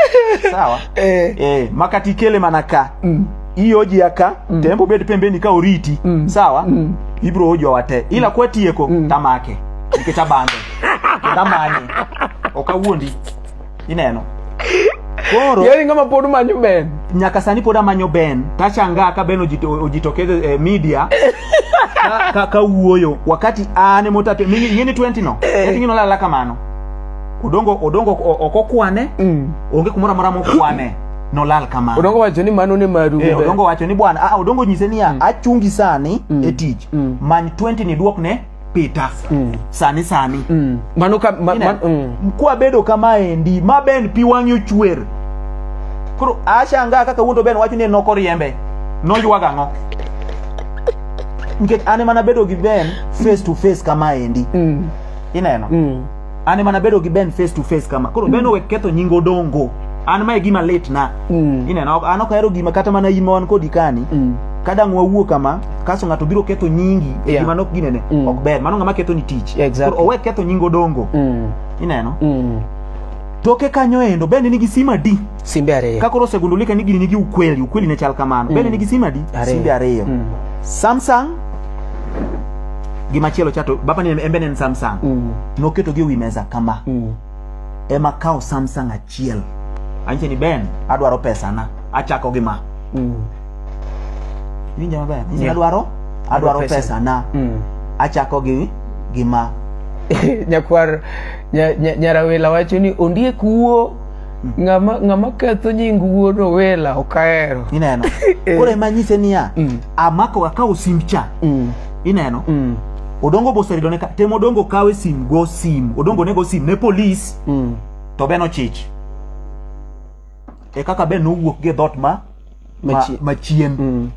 sawa eh. eh, makati kele mana ka mm. hii hoji ya ka mm. tembo bed pembeni ka oriti mm. sawa mm. ibro hoji wate ila mm. kwa tieko mm. tamake nikech abande tamanye ok awuondi ineno koro yani ngama pod manyo ben nyaka sani pod amanyo ben tachanga ka ben ojito, ojitokeze eh, media ka, ka, ka wuoyo wakati ane motate yini 20 no eh. yini no lala kamano odongo odongo okokwane mm. onge kumora mora mokwane nolal kamano odongo wacho ni mano ne maru eh, odongo wacho ni bwana ah, odongo nyise niya mm. achungi sani mm. e tich mm. many 20 ni duok ne pita mm. sani sani mm. mano ka ma, ma, mm. kwa bedo kama endi ma ben pi wang'i ochwer koro ashanga kaka wuondo ben wacho ni noko riembe noywaga ang'o nikech an ema nabedo gi ben face to face kama endi mm. ineno mm. an ema nabedo gi ben face to face kama koro ben owek ketho nying odongo an mae gima lit na Mm. ineno an ok ahero gima kata mana ima wan kodi kani Mm. kadang wawuo kama kaso ng'ato biro ketho nyingi e Yeah. gima nok ginene Mm. ok ber mano ng'ama ketho ni tich Exactly. Koro owek ketho nying odongo Mm. ineno Mm. toke kanyo endo ben nigi sima di simbe ariyo kakoro osegundulika ni gini nigi ukweli ukweli ne chal kamano bende nigi sim adi Ariyo. simbe ariyo Mm. samsung gi machielo chato baba ni embe ne en samsung Mm. noketogi ewi mesa kama Mm. ema kawo samsung achiel anyiche ni ben adwaro pesana achako gi ma Mm. winja maber Anyiche ni Yeah. adwaro adwaro pesa. pesana Mm. achako gi gi ma nyakwar nya- nya- nyarawela wacho ni ondiek wuo ng'ama ng'ama ketho nying wuod owela ok ahero ineno eh. koro ema nyise niya mm. amako akawo simb cha mm. ineno mm. odongo boserido ne tem odongo kawe sim go sim odongo ne go sim ne polis mm. to be nochich e kaka be nowuok gi dhot ma machien ma, ma mm.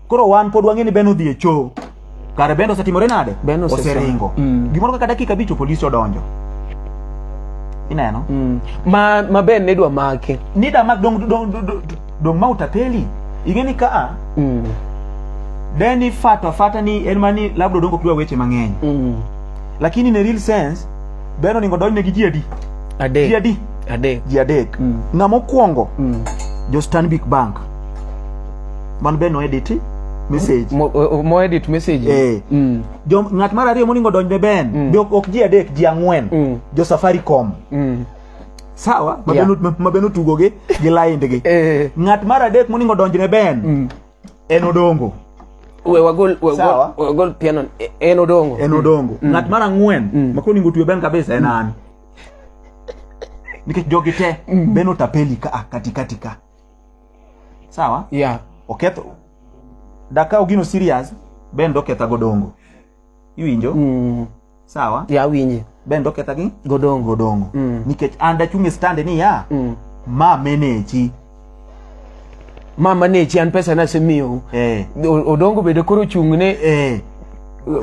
Koro wan pod wang'e ni Ben odhi e choo. Kare Ben osetimore nade? Ben oseringo. Mm. Gimoro kaka dakika bicho polisi odonjo. Ineno? Mm. Ma ma Ben ne dwa make. Ni da mak dong dong dong, dong ma utapeli. Ing'e ni ka mm. Deni fata fata ni en mani labda odongo kiwa weche mang'eny. Mm. Lakini in a real sense Ben oningo donjne gi ji adi? Adek. Ji adi? Adek. Ji adek. Mm. Ng'ama okwongo mm. jo Stanbic Bank. man be no edit message mo, mo edit message eh. mm. jo ng'at mar ariyo moningo donjne ben mm. be ok ji adek ji ang'wen mm. jo safaricom mm. sawa ma yeah. ben otugo gi gi lainde gi eh. ng'at mar adek moningo donjne ben mm. en odongo we wagol wagol wagol piano e, en odongo en odongo mm. ng'at mar ang'wen mm. ma koningo tuyo ben kabisa en an nikech jogi te mm. ben otapeli ka katikati ka sawa yeah. oketho dakaw gino serious ben doketha godongo iwinjo mm. sawa yeah, awinje ben doketha gi godongo godongo mm. nikech an dachung' e stand ni ya mm. ma menechi ma manechi an pesa nasemiyo eh. odongo bende koro chung'ne eh.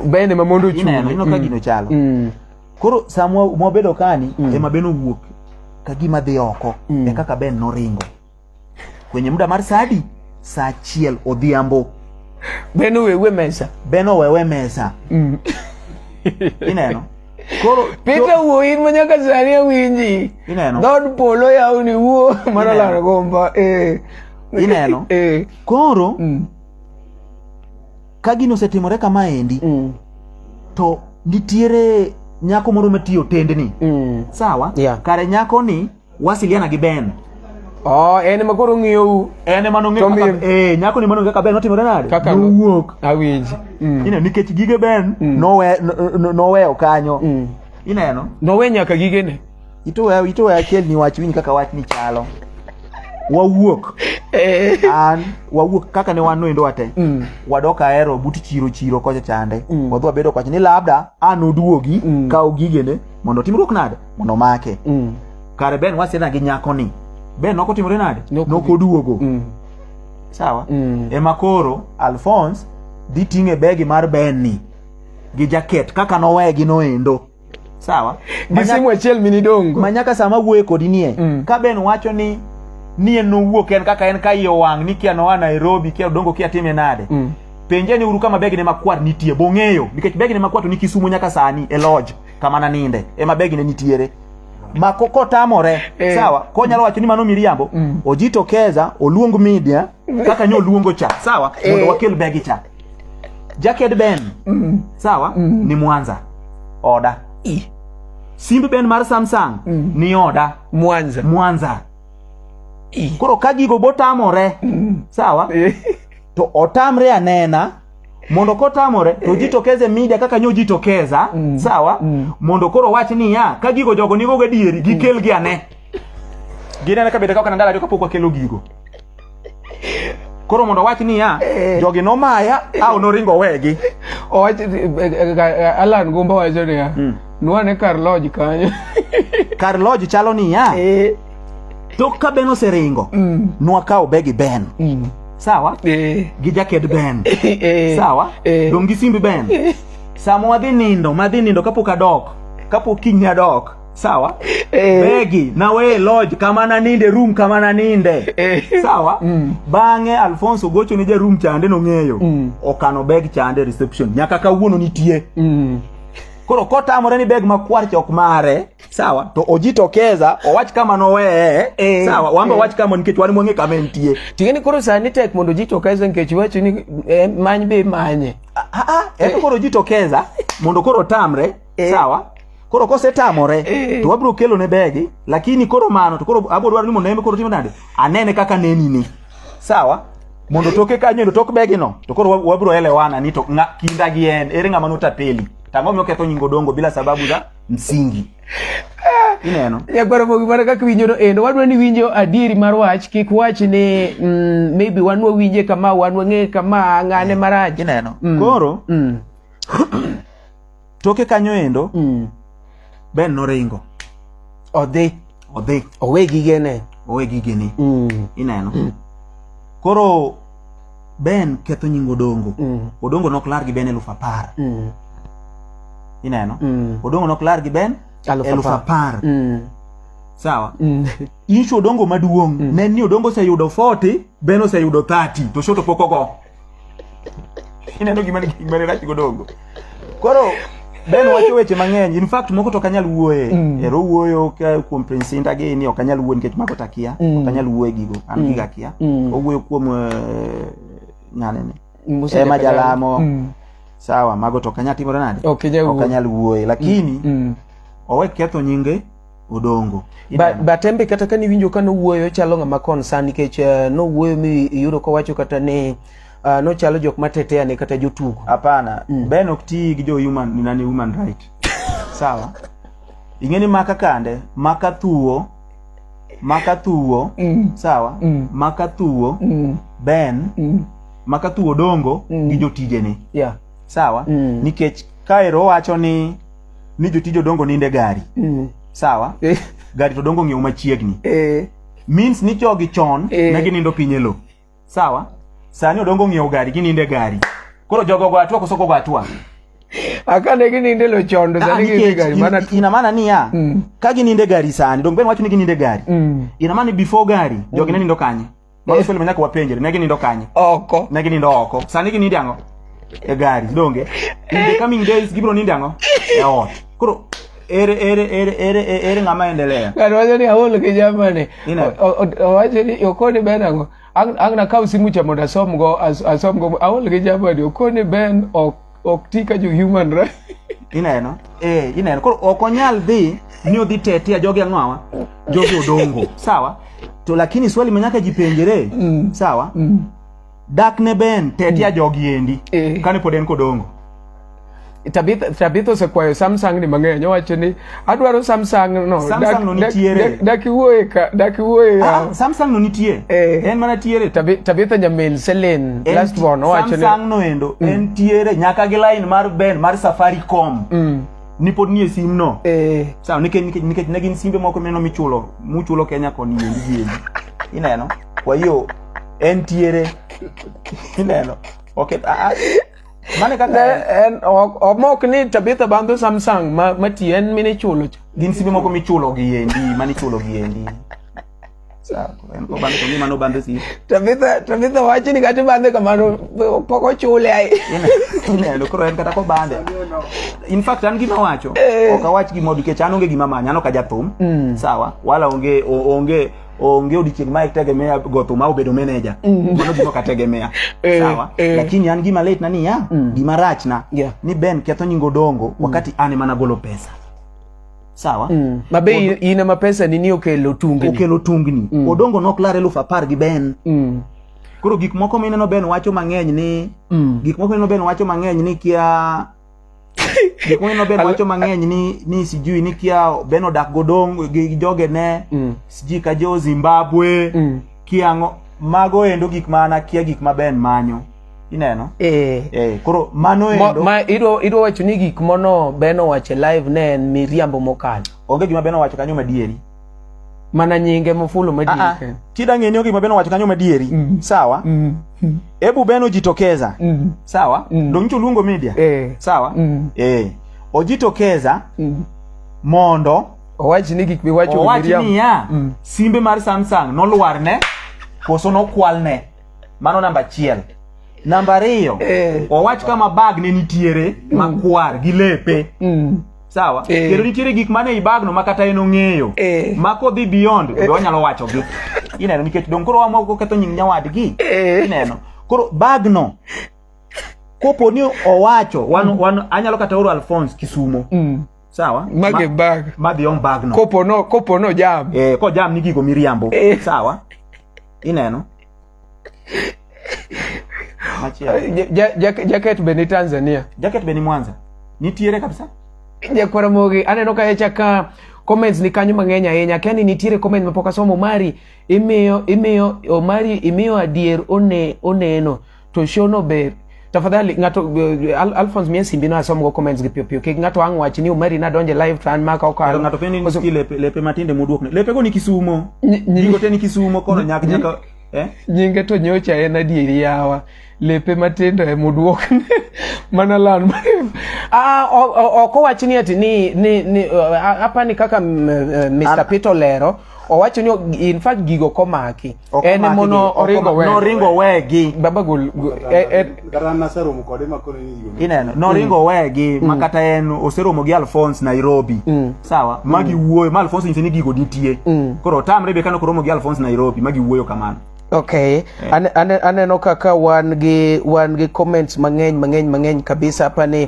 bende ma mondo ochung' ineno, ineno ka mm. gino chalo mm. Koro sa mwabedo kani mm. ema Ben owuok ka gima dhi oko mm. e kaka Ben noringo kwenye muda mar sadi saa achiel odhiambo Ben owewe mesa Ben owewe mesa mm. ineno Koro Peter wuo in ma nyaka sani awinji. Ineno. Dod polo yawni wuo mana laro gomba. Eh. Ineno. Eh. Koro mm. ka gino osetimore kama endi mm. to nitiere nyako moro matiyo otendni mm. sawa yeah. kare nyako ni wasiliana gi ben Oh, en ma koro ng'iyou. En ma nong'eyo kaka eh nyako ni manonge kaka Ben notimore nade? Kaka nowuok. Awinj. Mm. Ina nikech gige Ben mm. nowe noweyo kanyo. Mm. Ineno? Nowe nyaka gigene. itoya itoya achiel ni wach winj kaka wach ni chalo wawuok eh. an wawuok kaka ne wan noendo wate mm. wadok ahero but chiro chiro kocha chande mm. wadhi wabedo kwacha ni labda an oduogi mm. kawo gigene mondo otimruok nade mondo omake mm. kare ben wasiedha gi nyako ni ben nok otimore nade nok oduogo mm. sawa mm. ema koro alphonse dhi ting'e begi mar ben ni gi jaket kaka nowegi noendo sawa gisimu achiel mini dongo ma nyaka sama wuoye kodi nie mm. ka ben wacho ni nie nowuok en kaka en ka iye owang' ni kia noa nairobi kia odongo kia time nade mm. penje ni uru kama begine makwar nitie bong'eyo nikech begine makwar to ni kisumu nyaka sani e lodge kama naninde ema begine nitiere ma kotamore eh. sawa konyalo wacho ni mano miriambo mm. ojitokeza oluong media kaka nyo luongo cha sawa eh. mondo wakel begi cha jaked ben mm. sawa mm. ni mwanza oda I. simb ben mar samsung mm. ni oda mwanza mwanza I. koro ka gigo botamore mm. sawa eh. to otamre anena mondo kotamore to eh. jitokeze media kaka nyo jitokeza mm. sawa mm. mondo koro wach niya ka gigo jogo nigo gadieri gikelgi mm. ane Ginene ka bende ka ok nandala to kapok wakelo gigo. Koro mondo owach niya, eh. jogi nomaya, aw noringo owegi. Owach eh, eh, Alan Gumba wacho niya, hmm. nwane kar lodge kanyo. Kar lodge chalo niya. Tok ka Ben oseringo, hmm. nwakawo begi Ben. Hmm. Sawa? Gi jaked Ben. Sawa? Dong gi simbi Ben. Sama wadhi nindo, madhi nindo kapok adok, kapok kinya dok. sawa eh. begi na we lodge kama na ninde room kama na ninde eh. sawa mm. bang'e alfonso gocho ne jarum chande nong'eyo mm. okano beg chande reception nyaka kawuono nitie mm. koro kotamore ni beg makwar chok mare sawa to ojitokeza owach kama noweye eh, sawa wamba eh. wach kama nikech wan mwang'e kama entie tingeni koro sani tek mondo ojitokeza nikech wacho ni eh, many be manye ah, ah, ah, eh. koro ojitokeza mondo koro tamre eh. sawa koro kosetamore eh. to wabiro kelo ne begi lakini koro mano to koro abiro dwaro ni mondo eme koro timo nade anene kaka neni ni sawa mondo toke kanyo ndo tok begi no to koro wabiro elewana ni to nga, kinda gi en ere ngama notapeli tango mi oketho nyingo dongo bila sababu za msingi eh. ineno nyakwaro mogi mana kaka winjo no endo wadwa ni winjo adieri mar wach kik wach ni mm, maybe wan wawinje kama wan wang'e kama ng'ane eh. marach ineno mm. koro mm. toke kanyo endo mm. Ben noringo odhi odhi owe gigene owe gigene mm. ineno mm. koro Ben ketho nying Odongo mm. Odongo nok lar gi Ben eluf apar mm. ineno mm. Odongo nok lar gi Ben eluf apar mm. sawa mm. Ishu Odongo maduong mm. ne ni Odongo oseyudo 40 Ben oseyudo 30 to shoto pok ogo Ineno gima gima ne rach godongo. Koro Ben wacho weche mang'eny. In fact moko to ok anyal wuoye. Mm. Ero wuoyo ka kuom Prince Inda gi ni ok anyal wuoye nikech mago takia. Mm. Ok anyal wuoye gigo. An mm. giga kia. Mm. Owuoyo kuom uh, eh, ng'ane ni. Musa Ema Jalamo. Mm. Sawa, mago to ok anyal timore nade? Ok anyal wuoye lakini mm. mm. owe ketho nyinge Odongo. Ba, Batembe kata kane iwinjo ka nowuoyo chalo ng'ama concern nikech uh, nowuoyo mi iyudo kowacho kata ni uh, nochalo jok matetea ne kata jotugo. Hapana, mm. Ben ok ti gi jo human ni nani human right. Sawa. Ing'eni maka kande, maka thuo, maka thuo, mm. sawa, mm. maka thuo, mm. Ben, mm. maka thuo dongo mm. gi jotijene. Yeah. Sawa. Mm. Nikech kaero wacho ni ni jotij odongo ninde gari mm. sawa eh. gari to dongo ng'iew machiegni eh. means ni jogi chon eh. ne ginindo piny e lo sawa sani odongo ng'iew gari gininde gari koro jogo go atwa koso kogo atwa akane gininde lo chon to ah, sani gininde gari mana ina maana ni ya mm. ka gininde gari sani dongo ben wacho ni gininde gari mm. ina maana before gari jogi mm. ne nindo kanye Mano swali manyaka wapenjre, ne ginindo kanye? Oko. Ne ginindo oko. Sani ginindo ang'o? E gari, donge? In the coming days gibiro nindo ang'o? E ot. Koro ere ere ere ere e, ere ng'ama endelea? Ng'ato wacho ni aol ki jamani. Owacho ni okoni ben ang'o? Ang' na kaw simu cha mondo asom go asom go aol ki jamani. Okoni ben ok ok ti ka jo human right ineno eh ineno koro ok onyal dhi ni odhi tetea jogi ang'o awa jogi odongo sawa to lakini swali ma nyaka jipenjere Mm. sawa Mm. dak ne ben tetea jogi endi Eh. kane pod en kodongo Tabitha Tabitha osekwayo Samsung ni mang'eny owacho ni Adwaro Samsung no. Samsung no nitiere. Dak iwuoye ka, dak iwuoye. Ah, ah, Samsung no nitiere. Eh. En mana tiere. Tabi Tabitha Jamil Selen last one owacho ni Samsung no endo mm. en tiere nyaka gi line mar Ben mar Safaricom. Mm. ni pod nie sim no eh. sawa nikech nikech nikech ne gin simbe moko meno michulo muchulo Kenya koni yendi yendi ineno kwa hiyo en tiere ineno okay ah, ah. Mane kaka ne en ok omok ni Tabitha Bandho Samsung ma mati en mine chulo cha. Gin simbe moko michulo gi endi, mane ichulo gi endi. Tabitha Tabitha wacho ni kata bandhe kamano pok ochule ai. Ineno koro en kata kobandhe. In fact an gima wacho, eh. ok awach gima nikech an onge gima manya, an ok ajathum. Mm. Sawa, wala onge onge onge odiochieng' ma itegemea go thuma obedo meneja mm. mano gima kategemea eh, sawa eh. lakini an gima late na niya mm. gima rachna yeah. ni ben ketho nyingo dongo mm. wakati an ema nagolo pesa sawa mm. mabe ina mapesa nini okelo tungni okelo tungni mm. odongo nok lar eluf apar gi ben mm. koro gik moko mineno ben wacho mang'eny ni mm. gik moko mineno ben wacho mang'eny ni kia Gik mang'eny noben wacho mang'eny ni ni sijui ni kia ben odak godong gi joge ne Mm. sijui ka jo Zimbabwe Mm. kiango mago endo gik mana kia gik ma ben manyo ineno Eh. eh koro mano Mo- endo ma idwa idwa wacho ni gik mono beno wache live ne en miriambo mokalo onge gima ben owacho kanyo madieri mana nyinge mofulo madieri ah, ah. tida ng'eni ogima beno wacho kanyo madieri mm. sawa mm. Mm. ebu beno jitokeza mm. sawa mm. donyicho luongo media eh. sawa mm. eh. ojitokeza mm. mondo owach ni gik miwacho owach niya mm. simbe mar samsung nolwar ne koso nokwal ne mano namba achiel namba ariyo eh. owach kama bag ne nitiere mm. makwar gi lepe mm. sawa eh. kendo nitiere gik mane i bagno ma kata en ong'eyo eh. ma kodhi beyond be eh. wanyalo wachogi ineno nikech dong koro wamoko ketho nying nyawadgi ineno koro bagno kopo ni owacho wan, mm. wan, anyalo kata oro alphonse kisumo mm. sawa mage bag madhi on bagno kopo no kopo no jam eh, ko jam ni gigo miriambo eh. sawa ineno jaket be ni tanzania jaket be ni mwanza nitiere kabisa jakwara mogi aneno ka echa ka comments ni kanyo mang'eny ahinya akia ni nitiere comment mapok asomo omari imiyo imiyo omari imiyo adier one oneno to shono be tafadhali ng'ato uh, Al Alphonse mie simbi no asom go comments gi pio pio kik ng'ato ang wach ni umari na donje live to an maka okalo ng'ato pende ni ski lepe lepe matinde muduok ne lepe go ni kisumo nyingo te ni kisumo kono nyak nyaka eh nyinge to nyocha en adieri yawa lepe matindo e muduok mana lan ah ok owach ni ati ni ni ni uh, apani kaka Mr. Uh, Peter lero owacho ni in fact gigo komaki Ok En omaki mono gi- ok oringo omaki- wegi. Noringo wegi. Baba gol go- e- e- Kata an naseromo kode ma koro ni yudo. Ineno, noringo wegi ma kata en oseromo gi Alphonse Nairobi. Sawa? Ma giwuoyo, ma Alphonse nyise ni gigo nitie. Koro otamre be kano koromo gi Alphonse Nairobi ma giwuoyo kamano. Okay, Ane- ane- aneno kaka wan gi wan gi comments mang'eny mang'eny mang'eny kabisa hapa ni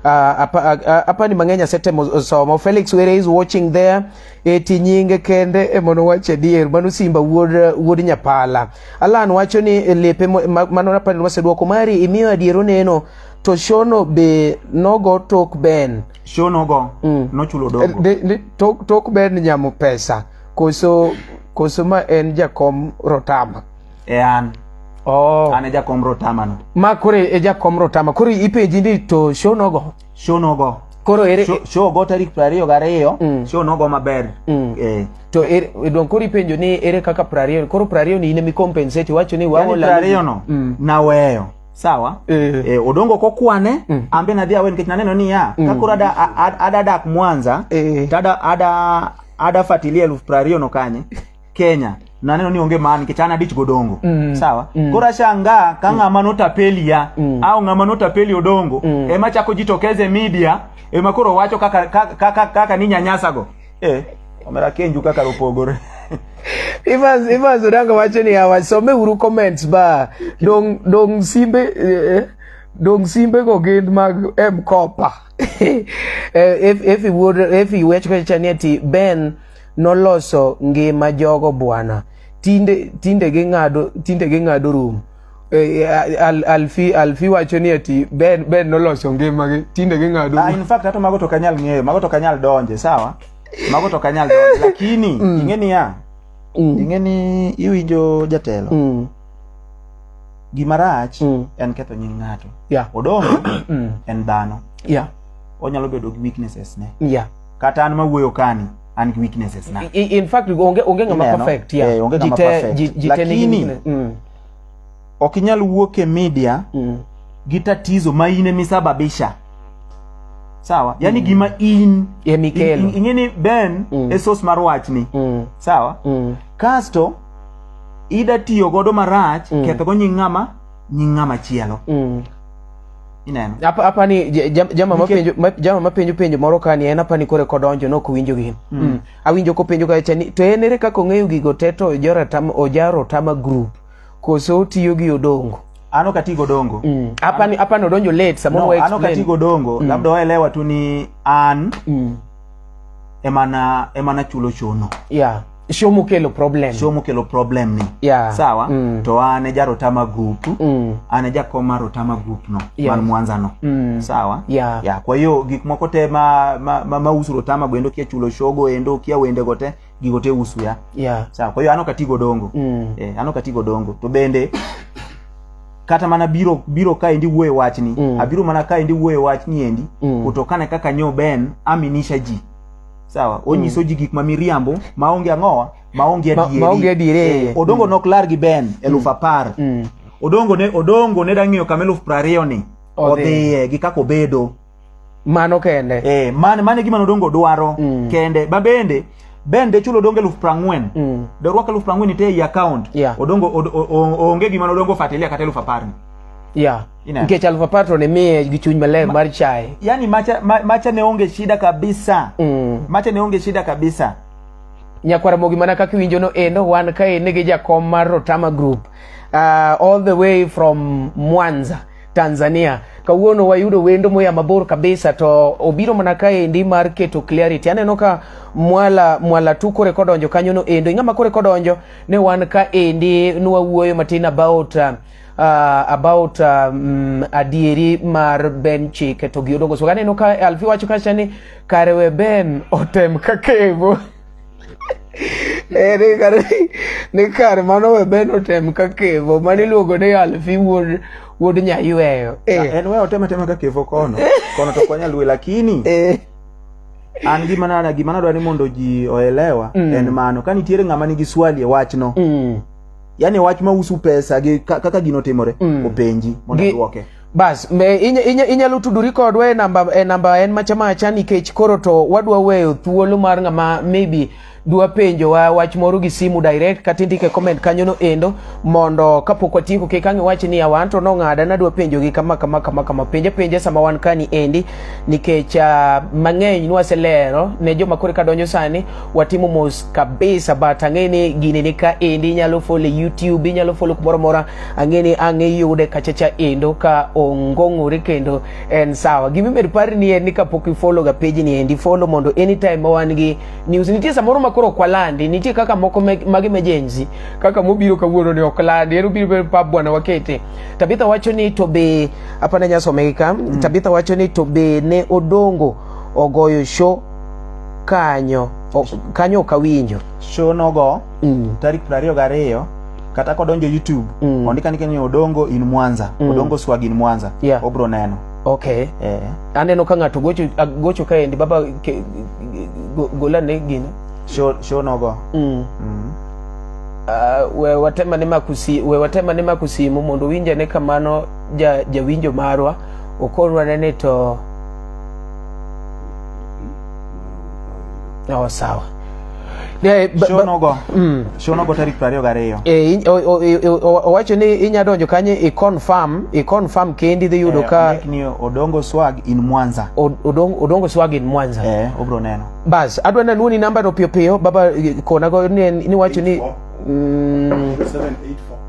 uh, hapa, uh, hapa ni mang'eny asetemo somo. Felix Were is watching there. eti nyinge kende e mono wacho adier mano simba wuod wuod nyapala alan wacho ni e lepe mano na panel waseduoko mari imiyo adier oneno to shono be nogo tok ben shono go mm. nochulo dogo de, de, tok, tok ben nyamo pesa koso koso ma en jakom rotama e an oh. an e jakom rotama no ma kore e jakom rotama kore ipenji ni to shono go show nogo koro ere show, show go tarik prariyo gariyo mm. show nogo maber mm. eh. to er, don koro ipenjo ni ere kaka prariyo koro prariyo ni ine mikompensate iwacho ni wawo la prariyo no mm. naweyo sawa eh. Eh, odongo kokwane mm. ambe nadhi awe nikech naneno ni ya mm. kakoro ada, ada, ada dak mwanza eh. tada ada ada fatilia elfu prariyo no kanye Kenya naneno ni onge man nikech an adich godongo mm. sawa mm. koro ashangaa ka mm. ng'ama notapeli ya mm. au ng'ama notapeli odongo mm. ema chako jitokeze media ema koro wacho kaka, kaka, kaka, kaka ni nyanyasago eh, omera kenju kaka lopogore Evans Evans Odanga wacho ni hawa some uru comments ba dong dong simbe eh, eh dong simbe go gin mag M Kopa eh, if if he would if he were to Ben noloso ngima jogo bwana tinde tinde ging'ado tinde ging'ado rum e, e, al, alfi alfi wacho ni ati ben ben noloso ngimagi tinde ging'ado ah, in fact hata mago to kanyal ng'eyo mago to kanyal donje sawa mago to kanyal donje lakini mm. ing'e ni ya mm. ing'e ni iwinjo jatelo mm. gima rach mm. en ketho nying ng'ato yeah. odong mm. en dhano yeah. onyalo bedo gi weaknesses ne yeah. kata an mawuoyo kani an gi weaknesses na I- in fact onge onge ngama Ineno? perfect ya Eh, onge ng'ama Jite- perfect. ji- jite nigi Lakini- weakness. Mm, ok inyal wuok e media mm. gi tatizo ma in emisababisha sawa yani gima in Emikelo. in- in- ing'e ni ben Mm. e source mar wachni Mm, sawa mm. kasto ida tiyo godo marach Mm. kethogo nying ng'ama nying ng'ama chielo Mm. ineno apa apa ni jama mapenjo jama mapenjo penjo moro kani en apa ni kore kodonjo no kuwinjo gin mm. mm. awinjo kopenjo ka chani to en ere kaka ong'eyo gigo te to ojara tam ojaro tama group koso otiyo gi odongo ano kati godongo mm. apa ni apa no donjo late samo no, ano kati godongo mm. labda waelewa tu ni an mm. emana emana chulo chono yeah shomukelo problem show mokelo problem ni Yeah. sawa Mm. to an e jarotama group Mm. an e jakom mar otama group no Yes. man mwanza no Mm. sawa Yeah. ya kwa hiyo gik moko te ma, ma, ma, ma usu rotama go endo kia chulo shogo endo kia wende go te gigo te usu ya yeah sawa kwa hiyo an ok atigo dongo Mm. eh, an ok atigo dongo to bende kata mana biro biro ka endi wuoye wachni Mm. abiro mana ka endi wuoye wachni endi Mm. kutokana kaka nyo ben aminisha ji sawa onyiso mm. ji gik ma miriambo maonge ang'owa maonge adieri eh, odongo mm. nok lar gi ben mm. eluf apar mm. odongo ne odongo ne dang'iyo kama eluf prariyo ni odhiye gi kaka obedo mano kende eh, man, mane gima nodongo dwaro mm. kende ma bende ben de chulo odongo eluf prang'wen mm. de orwak eluf prang'wen ite ei account yeah. odongo od, onge gima nodongo fatilia kata eluf apar ni yeah. nikech alfa patro ne miye gi chuny maler mar chaye yani macha, ma, macha ne onge shida kabisa mm. macha ne onge shida kabisa nyakwara mogi mana kaka iwinjo no endo wan kae nigi jakom mar rotama group uh, all the way from mwanza tanzania kawuono wayudo wendo moya mabor kabisa to obiro mana kaendi mar keto clarity aneno ka mwala mwala tu kore kodonjo kanyono endo ing'ama kore kodonjo ne wan kaendi nwawuoyo matin about uh, uh, about um, adieri mar Ben Chike to gi Odongo Soka. Aneno ka Alfi wacho kacha ni kare we Ben otem ka kevo ere eh, kare ni kare mano we Ben otem ka kevo mane iluongo ni Alfi wuod wuod nyayweyo eh. Ah, en we otem atema ka kevo kono kono to kwanya lwe lakini eh. an gima nana gima nadwa ni mondo ji oelewa mm. en mano ka nitiere ng'ama nigi swali e wachno mm. yani wach ma usu pesa gi kaka gino timore mm. openji mondo duoke bas inyalo tudori kodwa e namba e namba en macha macha nikech koro to wadwa weyo thuolo mar ng'ama maybe dwa penjo wa wach moro gi simu direct kata indike comment kanyo no endo mondo kapok watieko kik ang' iwach ni awan to nong'ada nadwa penjo gi kama kama kama kama penja penja sama wan kani endi nikech uh, mang'eny nwaselero ne joma koro kadonjo sani watimo mos kabisa but ang'e ni gini ni ka endi inyalo folo e youtube inyalo folo kumoro mora ang'e ni ang' iyude kachacha endo ka ongong'ore kendo en sawa gimimedo pari ni en ni kapok ifolo ga page ni endi folo mondo anytime ma wan gi news nitie samoro ma koro kwalandi nitie kaka moko mag emergency kaka mobiro kawuono ni ok landi en obiro pa bwana wakete tabitha wacho ni to be apana nyasomegi ka mm. tabitha wacho ni to be ne odongo ogoyo show kanyo o, kanyo ok awinjo show nogo mm. tarik 22 kata kodonjo youtube Mm. ondik andika ni odongo in mwanza Mm. odongo swag in mwanza Yeah. obro neno okay eh. aneno ka ng'ato gocho a- gocho kaendi baba ke, go, golane gino show, show nogo mm. mm. uh, we watema ne makusi we watema ne makusimu mondo winjane kamano ja jawinjo marwa okorwa nene to Oh, sawa eh, shonogo mm. shonogo tarik piero ariyo gariyo eh, owacho ni inya donjo kanye iconfirm iconfirm kendi dhi yudo eh, ka ni odongo swag in mwanza odongo swag in mwanza eh obro neno bas adwa na luoni namba no piyo piyo baba konago ni wacho ni 784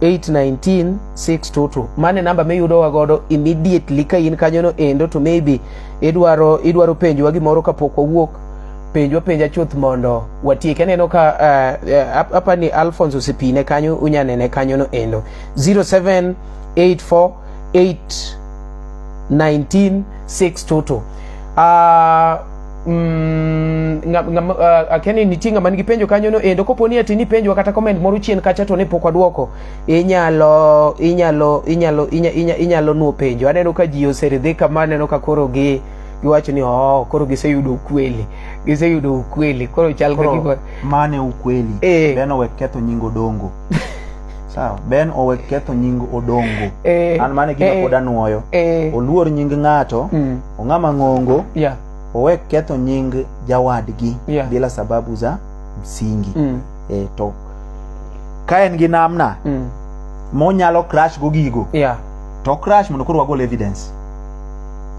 819622 mane namba miyudowa godo immediately ka in kanyono endo to maybe idwaro idwaro penjowa gimoro kapok wawuok penjwa penja chuth mondo watiek aneno ka uh, eh, uh, eh, apani alphonse osepine kanyo unyanene kanyono endo 0784819622 uh, ah, Mm, nga, nga, uh, akeni nitie ng'ama nigi penjo kanyo no endo kopo ni ati ni penjo kata comment moro chien kacha to ne pok waduoko inyalo inyalo inyalo inyalo, inyalo nuo penjo aneno ka ji oseridhi kama aneno ka koro gi giwacho ni oh, koro giseyudo ukweli giseyudo ukweli koro chal ka gima mane ukweli eh. ben owek ketho nying odongo sawa ben owek ketho nying odongo eh. an mane gima eh. pod anuoyo eh. oluor nying ng'ato mm. ong'a mang'ongo yeah. owe ketho nying jawadgi Yeah. bila sababu za msingi Mm. e, to ka en gi namna Mm. monyalo crash go gigo yeah. to crash mondo koro wagol evidence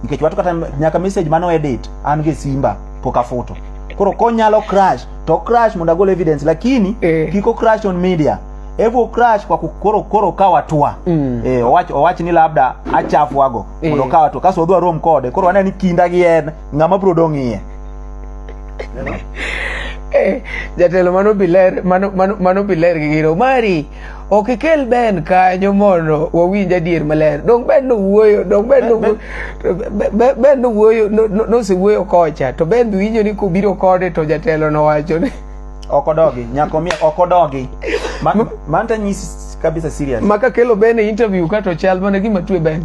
nikech watu kata nyaka message mano edit an gi simba pok afuto koro konyalo crash to crash mondo agol evidence lakini Eh. kiko crash on media evo crash kwa ku- koro koro ka watua Mm. eh, owach, owach ni labda achafuago eh. mondo okawa to kaso odwa rom kode koro aneno ni kinda gi en ng'ama bro dong' iye eh, jatelo mano biler mano mano mano biler gi giro mari ok ikel ben kanyo mondo wawinj adier maler dong ben no wuoyo dong ben no ben no wuoyo no se wuoyo kocha to ben winjo ni kobiro kode to jatelo no wacho ni okodogi nyako mia okodogi man man ta nyisi kabisa serious maka kelo bene interview kato chal mana gima twe ben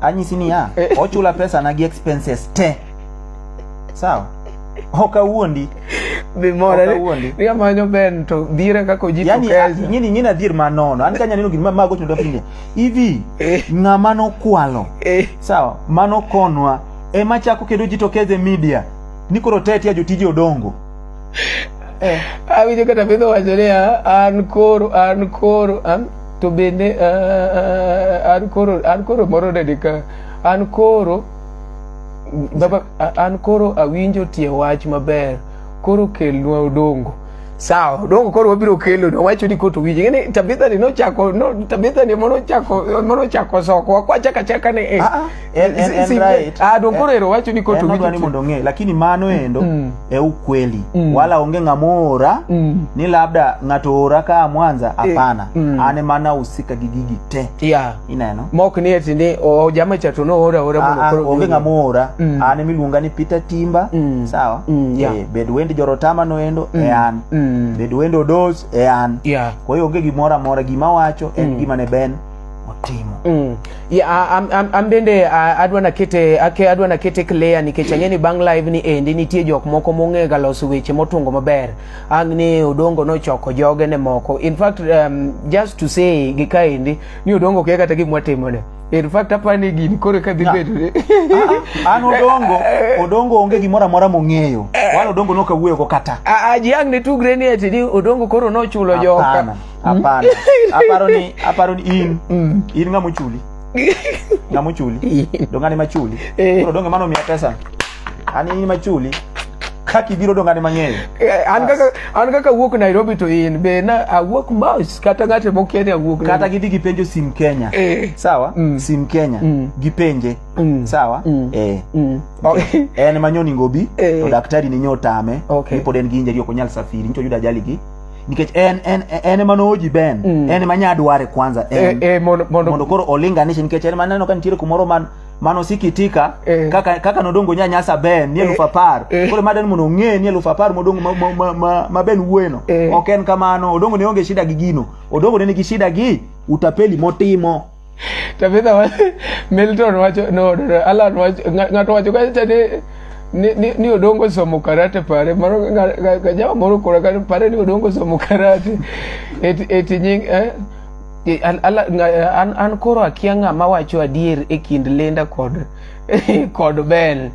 anyisi niya Eh. ochula pesa na gi expenses te sawa ok awuondi be mora Ok awuondi. ni amanyo ben to dhire kako jipo yani kesa nyini nyini adhier ma nono an kanya neno gini ma mago chuno pindi hivi Eh. ng'ama nokwalo eh sawa mano konwa ema chako kendo jitokeze media ni koro tetia jotije odongo Eh. Awinjo kata pidho wacho ni ah, an koro an koro an to bende ah, ah, an koro an koro moro nade ka an koro baba a- an koro awinjo tie wach maber koro kelnwa odongo sawa odongo koro wabiro kelo no wacho ni koto winje ngene tabitha ni nochako no tabitha ni mono chako mono chako soko wakwachaka chaka ni eh. Ah, ah. En- en- en Si- right. ah, dongoro ero wacho ni koto En odwa ni mondo ong'e lakini mano endo Mm. e ukweli Mm. wala onge ng'ama oora Mm. ni labda ng'ato oora kaa mwanza hapana Mm. an ema nahusika gi gigi te yeah ineno mok ni eti ni o jama cha to no ora ora mondo Ah, ah, koro- onge ng'ama oora Mm. an emiluonga ni peter timba Mm. sawa Mm, yeah. Eh, bed wend jorotama noendo e an Mm. bed wend odos e an yeah kwa hiyo onge gimoro amora gima wacho en gima ne ben otimo mm. yeah, am, am, am bende adwa nakete ake adwa nakete clear nikech ang'e ni bang' live ni endi nitie jok moko mong'e ga loso weche motungo maber ang' ni odongo nochoko joge ne moko in fact um, just to say gi kaendi ni odongo kia kata gimwa timone in fact apa ni gini kore ka dhi bedo ne ah, ah, an odongo odongo onge gimoro amora mong'eyo eh. wan odongo nokawuoyo go kata ah, ji ang' ne tugre ni ati ni odongo koro nochulo joka Hapana. Aparo ni aparo ni in mm. in ng'ama ochuli. Ng'ama ochuli. Dongani machuli. Eh. Koro donge mano miya pesa. Ani in machuli kaka ibiro dongane mang'eny eh, an kaka an kaka awuok nairobi to in be na awuok mos kata ng'ate mokia ni awuok kata gidhi gipenjo sim kenya eh. sawa mm. sim kenya mm. gipenje mm. sawa mm. eh. mm. okay. en manyoni ngobi eh. to daktari ninyo otame okay. nipod en gi injeri ok onyal safiri nito yudo ajali gi nikech en en en ema nooji Ben mm. en ema nya dware kwanza eh, en eh, eh, mondo, mondo, mondo koro olinganishe nikech en maneno ka nitiere kumoro man mano sikitika eh. kaka kaka nodongo nya nyasa Ben ni eh, elufu apar eh. koro maden mondo ong'e ni elufu apar modongo ma, ma, ma, ma, ma Ben wuoyeno eh. ok en kamano odongo ne onge shida gi gino odongo ne nigi shida gi utapeli motimo Tabitha wa- Milton wacho no, no, no, Alan wacho ng'a- ng'ato wacho kacha ni ni, ni, ni odongo somo karate pare mano nga- nga- nga- jawa moro kora kare pare ni odongo somo karate eti eti nying eh e, an, ala, nga- an, an koro akia ng'ama wacho adier e kind Linda kod kod Ben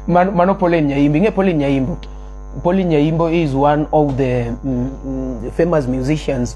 Man, mano Pauline Nyaimbo ing'e Pauline Nyaimbo Pauline Nyaimbo is one of the mm, mm, famous musicians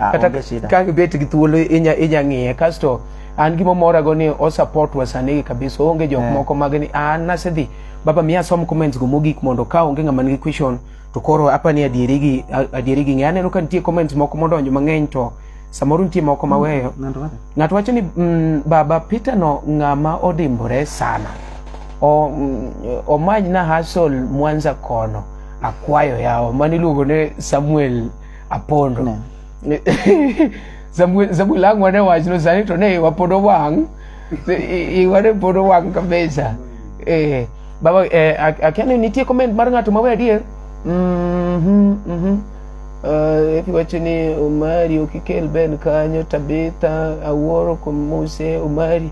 Ah, kata onge shida. ka ibet gi thuolo inya inya ng'iye kasto an gima mora go ni o support wa sani gi kabisa onge jok Eh. moko mag ni an nasedhi baba miya som comments go mogik mondo ka onge ng'ama nigi question to koro apa ni adieri gi a- adieri gi ng'e aneno ka nitie comments moko modonjo mang'eny to samoro nitie moko maweyo Ng'ato wacho? ng'ato wacho ni mm, baba peter no ng'ama odimbore sana o, mm, omany na hasol mwanza kono akwayo yawo mano iluongo ne samuel apondo no. zabu langu wane wachno sani to ne wapodo wang' iwane podo wang' kabisa eh, baba eh, akia ni nitie comment mar ng'ato mawe adier mm -hmm, mm -hmm. Uh, iwacho ni omari okikel ben kanyo tabitha awuoro komuse omari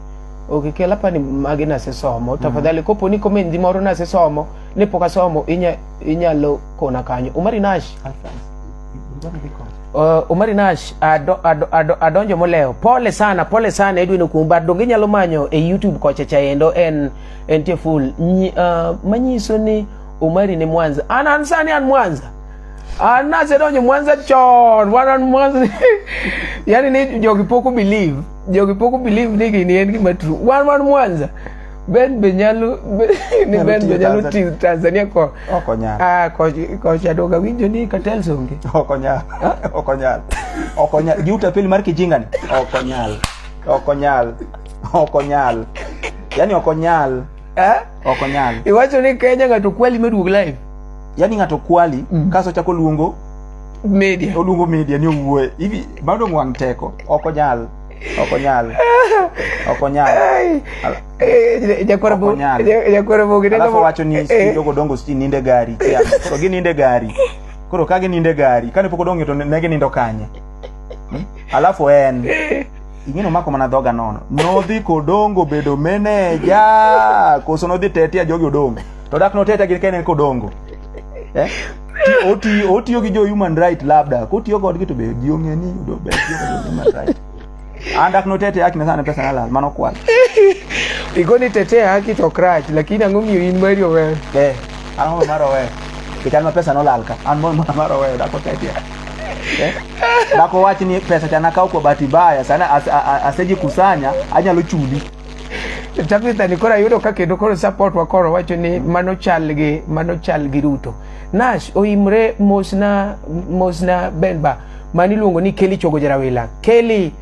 okay kela pani magi nasesomo mm. tafadhali mm. kopo ni komendi moro nasesomo ne pok asomo inya inyalo kona kanyo omari nash Uh, Omari Nash ado, ado, ado, adonjo moleo. Pole sana, pole sana Edwin Okumba. Donge inyalo manyo e YouTube kocha chaendo en en tie full. Nyi, uh, manyiso ni Omari ni Mwanza. An an sani an Mwanza. An nasedonjo Mwanza chon. Wan an Mwanza. yani ni jogi poko believe. Jogi poko believe ni gini en gima true. Wan wan Mwanza. Ben be nyalo ni Ben be nyalo tiyo Tanzania ko okonya ah ko ko chadoga winjo ni katel songe okonya okonya okonya giuta pili mar kijingani okonya okonya okonya yani okonya eh okonya iwacho ni Kenya ng'ato kwali meduog live yani ng'ato kwali mm. kaso chako luongo media oluongo media ni owuoe hivi bado mwang teko okonya ok onyal ok onyal alafu wacho ni jogo eh. dongo siti ninde gari koro gininde gari koro ka gininde gari kane pok odong'e to ne ginindo kanye hmm? alafu en ing'eno mako mana dhoga nono nodhi kodongo bedo meneja koso nodhi tetia jogi odongo to dak notetia gi kene kodongo eh? otiyo otiyo gi jo human right labda kotiyo kodgi to be ji ong'e ni do be tiyo gi jo human right an dak notete haki na sana pesa na lal mano kwal Igoni tete haki to krach lakini ang'o miyo in mari owe. eh an mo maro we ke chan ma pesa no lal ka an mo maro we dak otete eh dak owach ni pesa chana kaw kwa bahati baya sana as- a- a- asejikusanya anyalo chuli Tabitha ni koro ayudo ka kendo koro support wa koro wacho ni mano chal gi mano chal gi Ruto. Nash oimre mosna mosna Benba mani luongo ni Kelly Chogo Jarawila. Kelly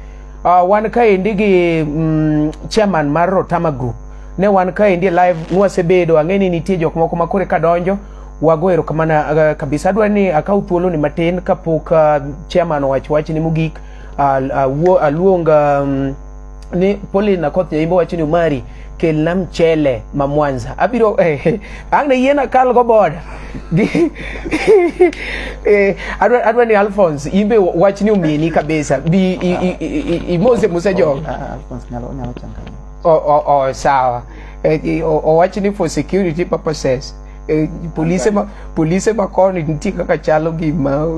uh, wan kaendi gi mm, chairman mar Rotama Group ne wan kaendi live nwasebedo ang'e ni nitie jok moko ma kore kadonjo wago erokamana uh, kabisa adwa ni akaw thuolo ni matin kapok uh, chairman owach wach ni mogik uh, uh, aluong uh, um, ni poli na koth nyaimbo wacho ni umari kelna mchele ma mwanza abiro eh, eh ang' ne yiena kal go boda eh, adwa, adwa ni alphons imbe wach ni umieni kabisa bi imose mose jogo ah, ah, oh, oh, oh, sawa eh, owach ni for security purposes Eh, polise ma polise ma koni nitie kaka chalo gima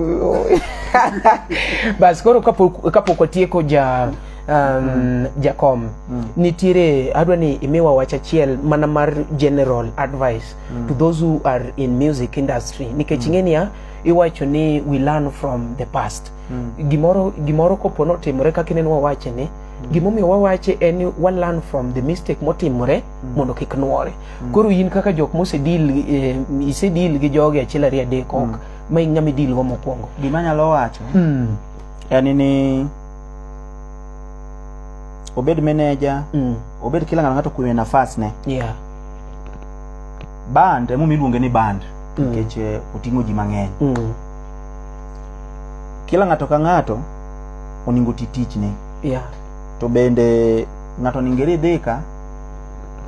bas koro kapok kapok watieko ja um, mm. Jakom mm. nitiere adwa ni imiwa wach achiel mana mar general advice mm. to those who are in music industry nikech mm. ing'eniya iwacho ni we learn from the past mm. gimoro, gimoro kopo notimore kaka ineno wawache ni mm. gimomiyo wawache en ni wa learn from the mistake motimore mm. mondo kik nwore mm. koro in kaka jok mosedil eh, isedil gi jogi achiel ariyo adek ok mm. ma ing'ama idilgo mokwongo gima nyalo wacho mm. en ni obed manager mm. obed kila ng'ato ng'ato kuwe nafas ne yeah. band emomiyo iluonge ni band mm. nikech mm. oting'o ji mang'eny mm. kila ng'ato ka ng'ato oningo ti tichne yeah. to bende ng'ato oningo iridhika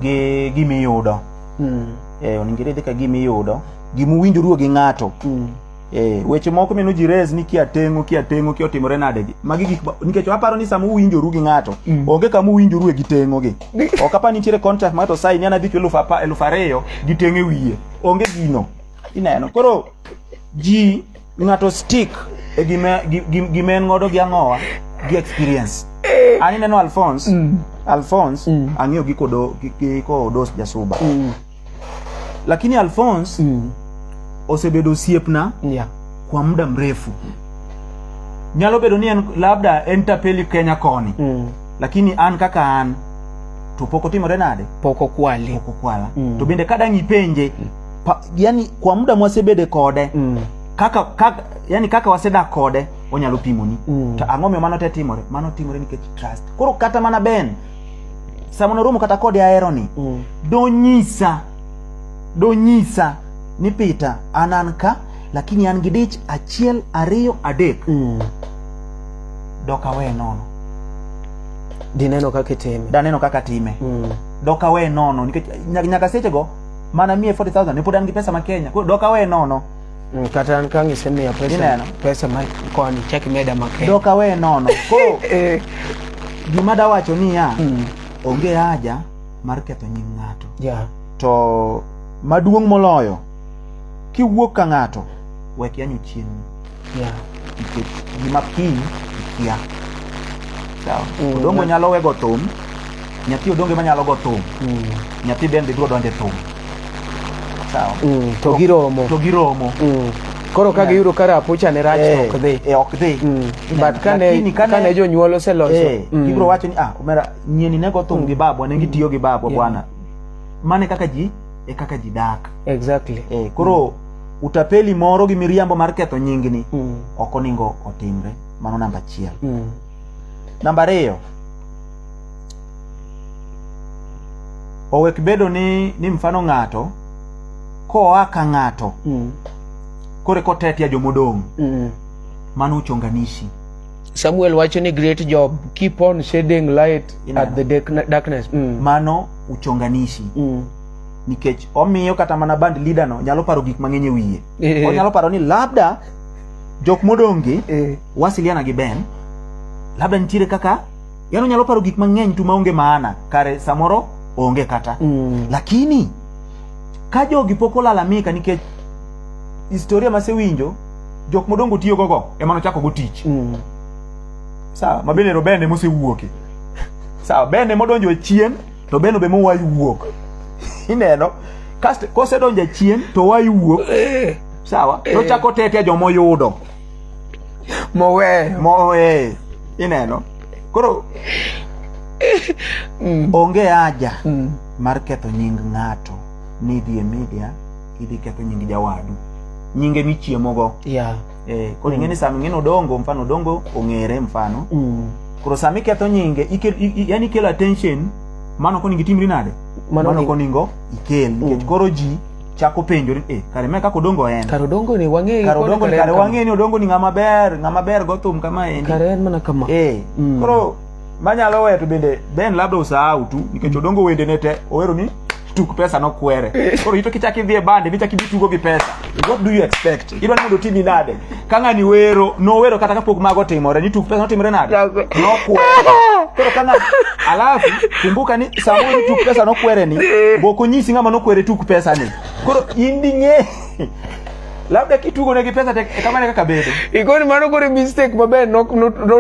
gi gimiyudo mm. e, eh, oningo iridhika gimiyudo gimuwinjoruo gi ng'ato mm. Eh, weche moko mino ji res ni kia tengo kia tengo kia otimore nade gi. Magi gik nikech aparo ni sama uwinjoru gi ng'ato, mm. onge kama uwinjoru e gi tengo gi. Ok apa nitiere contract ma to sai ni anadhi chulo elfu ariyo gi tengo e wiye. Onge gino. Ineno. Koro ji ng'ato stick e gima gima en godo gi ang'owa gi experience. Eh. Ani neno Alphonse, mm. Alphonse mm. ang'iyo gi kodo gi kodo jasuba. Mm. lakini alphonse mm. osebedo osiepna yeah. kwa muda mrefu nyalo bedo ni en labda en tapeli kenya koni mm. lakini an kaka an to pok otimore nade pok okwali pok okwala mm. to bende kadang' ipenje mm. pa, yani kwa muda mwasebede kode mm. kaka, kaka yani kaka wasedak kode onyalo pimoni mm. to ang'o miyo mano te timore mano timore nikech trust koro kata mana ben sama noromo kata kode aheroni mm. donyisa donyisa ni Peter an an ka lakini an gi dich achiel ariyo adek mm. dok awe nono dineno kaka itime daneno kaka time mm. dok awe nono nikech nyaka sechego mana miye 40000 ne pod an gi pesa ma Kenya koro dok awe nono Mm, kata an kang' isemiya pesa Ineno? pesa ma koni chak imeda maket dok awe nono koro Eh, gima dawacho niya mm, onge haja mar ketho nying ng'ato yeah. to maduong' moloyo kiwuok ka ng'ato wek yanyo chienni Yeah. nikech gima kiny ikia sawa Mm. odongo nyalo wego thum nyathi odongo ema nyalo go thum Mm. nyathi bende biro donje thum sawa Mm. to giromo to giromo Mm. koro ka Yeah. giyudo ka rapucha ne rach Eh, ok dhi eh, ok dhi Mm. Yeah, but kane lakini kane- kane jonyuol oseloso Eh, Mm. ibiro wacho ni ah omera nyieni ne go thum gi babwa ne gitiyo gi babwa Yeah. bwana mane kaka ji e kaka ji dak exactly eh, koro utapeli moro gi miriambo mar ketho nyingni mm. ok oningo otimre mano namba achiel mm. namba ariyo owek bedo ni ni mfano ng'ato koa ka ng'ato mm. kore kotetia jomodong' mm. mano uchonganishi samuel wacho ni great job keep on shading light Ina. at the darkness mm. mano uchonganishi mm. nikech omiyo kata mana band leader no nyalo paro gik mang'eny e wiye eh. onyalo paro ni labda jok modongi eh. wasiliana gi Ben labda nitiere kaka yani onyalo paro gik mang'eny tu maonge maana kare samoro onge kata mm. lakini ka jogi pok olalamika nikech historia masewinjo jok modongo tiyo gogo ema nochako go tich mm. sawa mabende ero Ben emosewuoke sawa Ben emodonjo e chien to beno be mowayi wuok ineno kasto kosedonjo chien to wayi wuok eh. sawa eh. tochako tete jomoyudo moweyo moweyo ineno koro mm. onge haja mm. mar ketho nying ng'ato nidhi e media idhi ketho nying jawadu nyinge michiemogo yeah. eh, koro ing'e ni sama ing'e ni odongo mfano odongo ong'ere mfano Mm. koro sama iketho nyinge ikel- i- i- yani ikelo attention mano koningo itimri nade Mano mano ni- koningo ikel nikech koro ji chako penjori eh, kare me kaka odongo en Kar odongo ni wang'e kare odongo ni kare wang'e ni odongo ni ng'ama ber ng'ama ber gothum kama endi Kare en mana kama. eh Mm. koro manyalo weyo to bende ben labda usahau tu nikech odongo wende ne te owero ni tuk pesa no kwere koro ito kichak idhi e bande nichak idhi tugo gi pesa what do you expect idwa ni mondo otimi nade ka ng'ani wero nowero kata kapok mago timore ni tuk pesa notimre nade nokwere koro ka ng'a alafu kumbuka ni samoro ni tuk pesa nokwere ni bok onyisi ng'ama nokwere tuk pesa ni koro in ding'e labda kitugo ne gi pesa tek kama ne kaka bedo ikoni mano kore mistake maber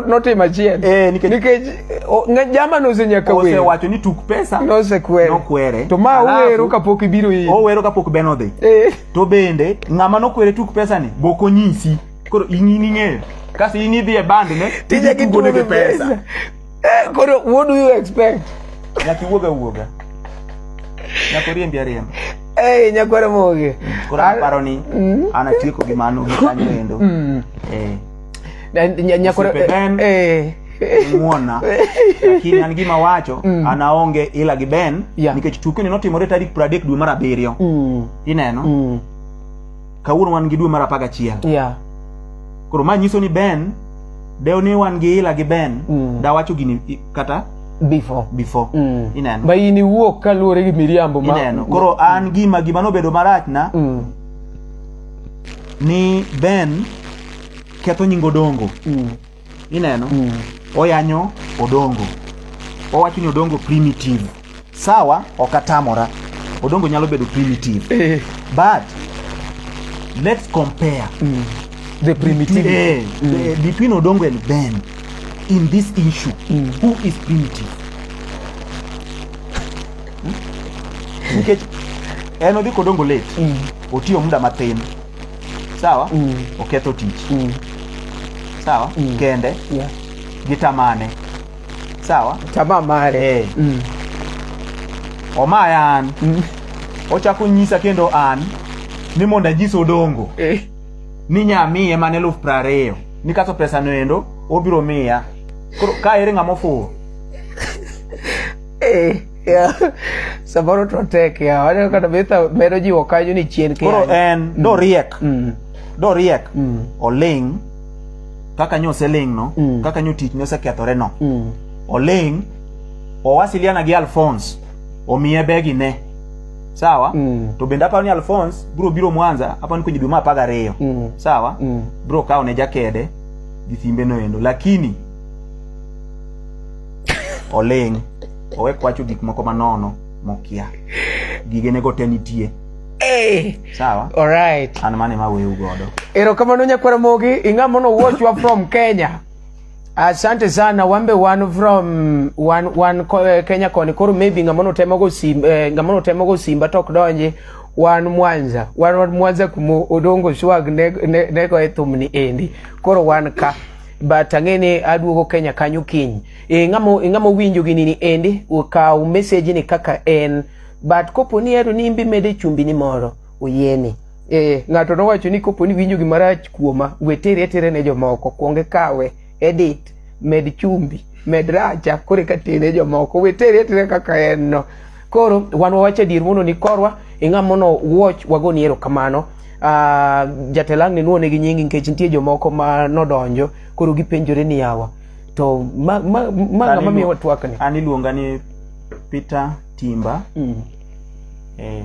notim achiel eh, nikech jamano osenyaka wero osewacho ni tuk pesa nosekwere nokwere to ma owero kapok ibiro yi owero kapok ben odhi eh. to bende ng'ama nokwere tuk pesa ni bok onyisi koro ing'ini ng'eyo kasi in idhi e band ne tije kitugo ne gi pesa Eh, koro what do you expect? Nyaki wuoga wuoga. Nyako riembi ariemba. Eh, nyako ramoge. Koro paro ni mm. ana tieko gi mano gi kanyo endo. Mm. Eh. Nyako eh muona lakini an gima wacho mm. an aonge ila gi Ben yeah. nikech tukio ni notimore tarik 30 dwe mar abiriyo mm. ineno mm. kawuono wan gi dwe mar apar gachiel yeah. koro ma nyiso ni ben dew ni wan gi ila gi ben mm. dawacho gini kata before before mm. ineno ma in iwuok kaluwore gi miriambo ma ineno koro mm. an gima gima nobedo marachna mm. ni ben ketho nyingo dongo mm. ineno mm. oyanyo odongo owacho ni odongo primitive sawa ok atamora odongo nyalo bedo primitive eh. but let's compare mm. the primitive between, eh, mm. the, between odongo and ben in this issue mm. who is primitive hmm? nikech en odhi kodongo late mm. otiyo muda mathin sawa Mm. oketho tich Mm. sawa Mm. kende Yeah. gi tamane sawa Tamaa mare. Eh. Mm. omaya an Mm. ochako nyisa kendo an ni mondo anyis odongo Eh. ni nyamiye mane eluf prariyo ni kaso pesa noendo obiro miya koro ka ere ng'ama ofuwo Eh. samoro to tek ya waneno kata betha medo jiwo kanyo ni chien koro koro en mm. doriek mm. doriek mm. oling kaka nyo oseling no mm. kaka nyo tich nosekethore no mm. oling owasiliana gi alphonse omiye begi ne sawa mm. to bende aparo ni alphonse biro biro mwanza aparo ni kwenye dwe ma apar gariyo mm. sawa mm. biro kawo ne jakede gi thimbe noendo lakini oling owe kwacho gik moko manono mokia gigenego te nitie Hey. Sawa. All right. An mane ma weu godo. Erokamano nyakwara mogi ing'a mono watch wa from Kenya. Asante sana wambe wan from wan wan eh, Kenya koni koro maybe ng'a mono temo go sim eh, ng'a mono temo go simba tok donje wan Mwanza wan wan Mwanza kumo odongo swag ne ne, ne go etumni endi koro wan ka but ang'ene aduogo Kenya kanyo kiny. E, ng'amo, e, ng'amo winjo gini ni endi ukaw message ni kaka en but kopo ni ero ni imbi mede chumbi ni moro uyeni. E, ng'ato nowacho ni kopo ni winjo gimarach kuoma wetere atere ne jomoko kuonge kawe edit med chumbi med racha kore katene jomoko wetere atere kaka en no. Koro wan wawach adier mondo ni korwa ing'a mono watch wagoni erokamano. Uh, ah, jatelang ni nuone gi nyingi nikech nitie jomoko ma nodonjo koro gipenjore ni yawa to ma ma ma ma mi watwakni an iluonga ni Peter Timba mm. eh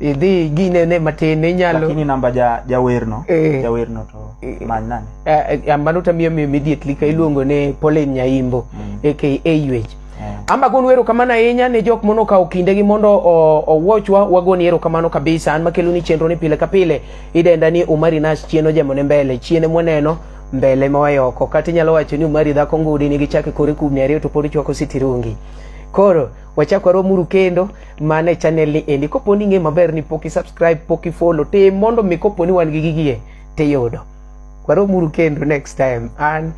idhi ginene matin inyalo lakini namba ja jawerno eh, jawerno to eh, many nani eh, eh ambano tamiyo mi immediately ka iluongo ne Pauline Nyaimbo mm. aka Aywech yeah. Amba gon wero kamano ahinya ne jok mono kawo kindegi mondo owochwa wagoni ero kamano kabisa an makelo ni chenro ni pile ka pile idenda ni Umari Nash chieno jamone mbele chiene mwaneno mbele mawayo oko kata inyalo wacho ni Umari dhako ngudi nigi chake kore kubni ariyo to pod chwako sitirungi koro wachak waromuru kendo mana e channel ni endi kopo ni ing'e maber ni pok isubscribe pok ifollow te mondo mi kopo ni wan gi gigie tiyudo waromuru kendo next time and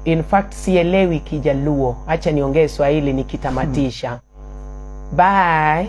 in fact sielewi kijaluo acha niongee swahili nikitamatisha hmm. bye